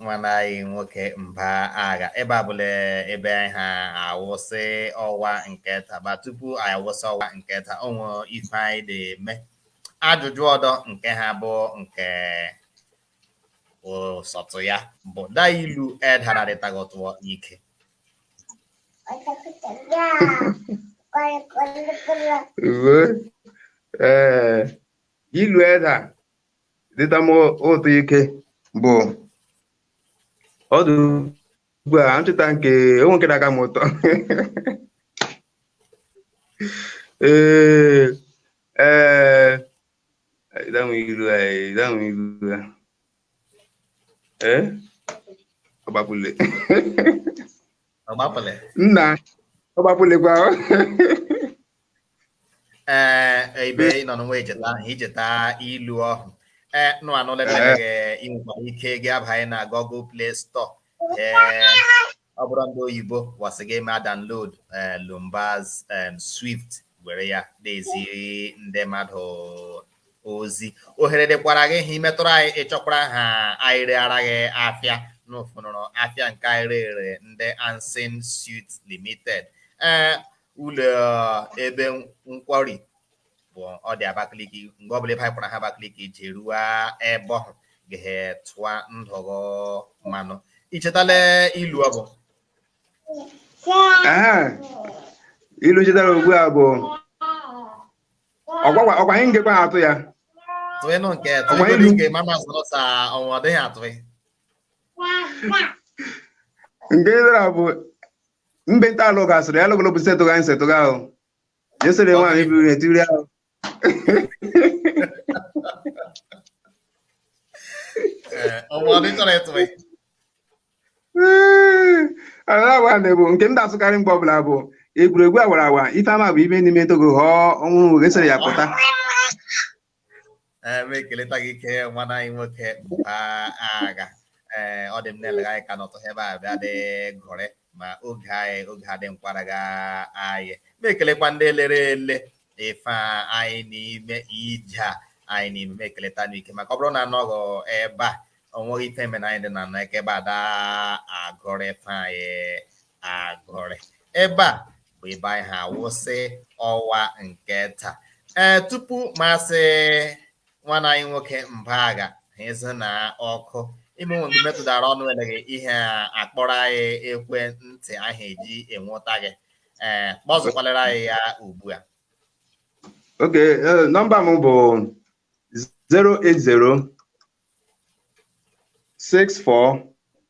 nwanne anyị nwoke mba agha ebe a bụla ebe anyị ga-akwụsị ọwa nke taa but tupu anyị akwụsị ọwa nke taa o nwere ife anyị na-eme ajụjụ ọdọ nke ha bụ nke ụsọtụ ya bụ da ilu eda adịta gị ụtọ ike ee ilu eda dịta m ụtọ ike bụ ọdụ ugbu a ncheta nke o nwe nke da-aka m ụtọ ee ee Idanwe iru ya, idanwe iru ya. Eh? Ọgbapụle. Ọgbapụle. Nna, ọgbapụle kwa. Ee, eh, ibe ị nọ n'onwe icheta ahụ, icheta ilu ọhụ. Ee, eh, nụ anụ lelege eh. i nwekwara ike gị abanye na Google Play Store. ọ bụrụ ndị oyibo wa sị gị mee download eh, Lumbaz eh, Swift were ya na-ezi ndị mmadụ ozi ohere dịkwara gị ha i metụrụ anyị ị chọkwara ha anyị reara gị afịa n'ụfụnụrụ afịa nke anyị rere ndị Ansin Suit Limited ee eh, ụlọ ebe nkwari bụ ọ dị Abakaliki mgbe ọbụla ebe anyị kwara ha Abakaliki i jeruo ebe ọhụ gehe tụọ ndụ ghụ mmanụ i chetala ilu ọ bụ ilu chetara ugbu a bụ ọgwa anyị ngekwa atụ ya tụịnụ nke tụịnụ nke mama zụrụ sa ọnwa ọ dịghị atụghị nke ịdara bụ mbe nta alụ gasịrị ya lụgolo bụ setụga anyị setụga ahụ Yesterday one if you do that. ọmọ ọdún tọrọ ẹtọ ẹ. Alawa na-ebu nke m na-asụkarị mgbe ọbụla bụ egwuregwu awara awa ife ama bụ ibe n'ime ntogo ghọọ ọnwụ oge sịrị ya pụta. m ekeleta gị ike nwanne anyị nwoke Agha ee ọ dị m na-elega anyị ka n'ọtọ ebe a bịa dị gụrị ma oge anyị oge adị nkwara ga anyị na-ekelekwa ndị lere ele ife anyị na-eme ije a anyị na-eme m ekeleta n'ike maka ọ bụrụ na anọghị ebe a onweghị ife mere anyị dị na anọ eke ebe a da-agụrị ife anyị agụrị ebe a bụ ebe anyị ha-awụsị ọwa nke taa ee tupu Maazị nwanne anyị nwoke Mba Agha ha ịzụ na ọkụ ime nwe metụtara ọnụ eleghị ihe a kpọọrọ anyị ekwentị ahụ e ji enweta gị ee kpọzụkwalere anyị ya ugbu a ok eh, nọmba m bụ 080 64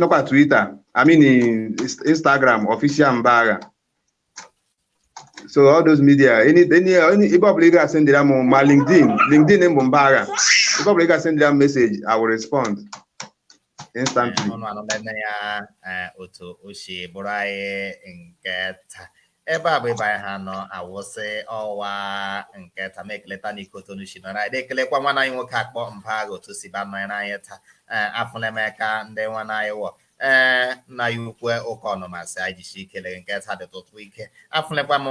nọkwa Twitter I mean Instagram official Mba Agha so all those media any any any ebe ọbụla ị ga-asendịra m ma LinkedIn LinkedIn m bụ Mba Agha ebe ọbụla ị ga-asendịra m message I will respond instantly. ọnụ anụlele ya eh, otu o si bụrụ anyị nke taa ebe a bụ ebe anyị ha nọ awụsị ọwa nke taa m ekeleta na ike otu unu si nọrọ anyị na-ekelekwa nwanna anyị nwoke a kpọ Mba Agha otu o si ba nọ ya n'anya taa ee afụle m ka ndị nwanna anyị wọ ee nna ya ukwe ụka ọnụmasị anyị jisi ikele nke taa dị tụtụ ike afụlekwa m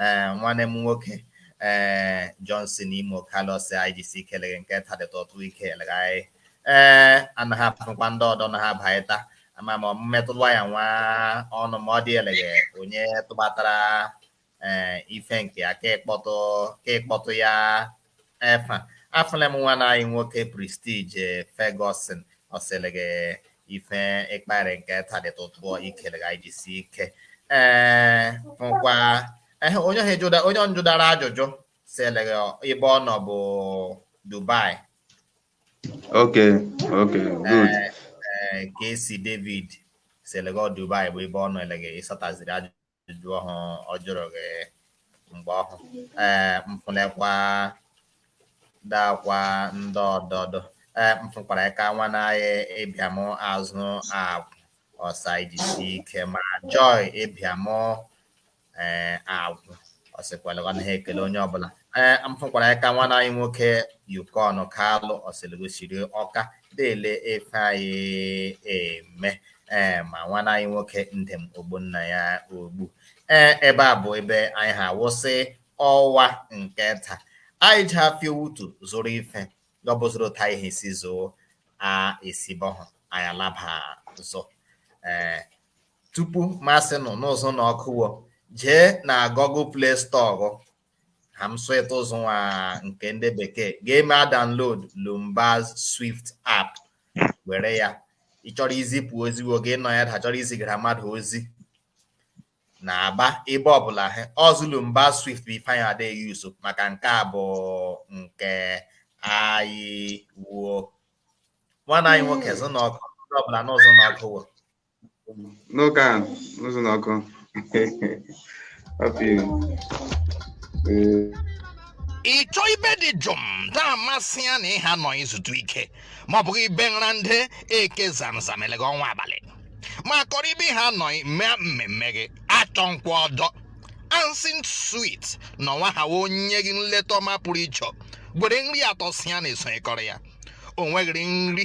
ee nwanne m nwoke ee Johnson Imo Carlos anyị jisi ikele nke taa dị tụtụ ike elegharị ee anaghị afụkwa ndị ọdọ na ha bata ama m mmetụlụ ya nwa ọnụ ma ọ dị elege onye tụbatara ee eh, ife nke ya ka e kpọtụ ka e kpọtụ ya efa afụle m nwanna anyị nwoke Prestige Ferguson ọ sị lege ife ị kpara nke taa dị atọ ụtọ ike lege jisi ike ee eh, nkwa eh, onye onye njụdara ajụjụ sị lege ebe ọ nọ bụ Dubai Okay, okay, good. Eh, eh, Casey David sị lege Dubai bụ ebe ọ nọ elege ị sataziri ajụjụ ọhụ ọ jụrụ gị mgbe ọhụ ee eh, m fụlekwa dakwa ndị ọdọdọ ee m fụkwara ka nwanna anyị Ibiam Azu Agwu ọ sị anyị jisi ike ma Joy Ibiam ee Agwu ọ sịkwara gwa na ha ekele onye ọbụla ee m fụkwara ya ka nwanna anyị nwoke Okon Kalu ọ sị lege o siri Ọka dị ele ife anyị eme ee ma nwanna anyị nwoke Ndem Ogbonnaya Ogbu ee ebe a bụ ebe anyị ha wụsị ọwa nke taa anyị ji afịa wutu zụrụ ife gọbụzụrụ ta ihe si zoo a esibọhụ anyị alaba zụ ee tupu m asị nọ n'ụzọ na ọkụwo jee na Google Play Store ha m sụịta ụzọ nwa nke ndị bekee ga-emea download Lumbaz Swift app were ya ị chọrọ izipụ ozi oge ị nọ ya da ị chọrọ izigara mmadụ ozi na Aba ebe ọbụla ha ọzụ Lumbaz Swift bụ ife anyị dị use maka nke a bụ nke anyị wo nwanna anyị nwoke zụ na ọkụ ọbụla n'ụzọ na ọkụ No can. No se no con. Papi. Eh. ị chọ ibe dị jụụ na-amasị ya na ị ha nọ izutu ike ma ọ bụghị ibe nra dị eke zamzam elege ọnwa abalị ma kọrọ ibe ha nọ mee mmemme gị achọkwa ọdọ Ansin Suite nọ nwa ha wee nye gị nleta ọma pụrụ iche e nwere nri atọ si ya na-esonyekọrọ ya o nweghịrị nri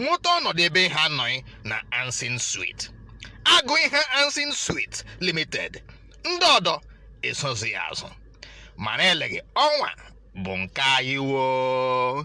nweta ọnọdụ ebe ihe anọghị na Ansin Sweet agụ ihe Ansin Sweet Limited ndị ọdọ esozi ya azụ mana eleghị ọnwa bụ nke anyị woo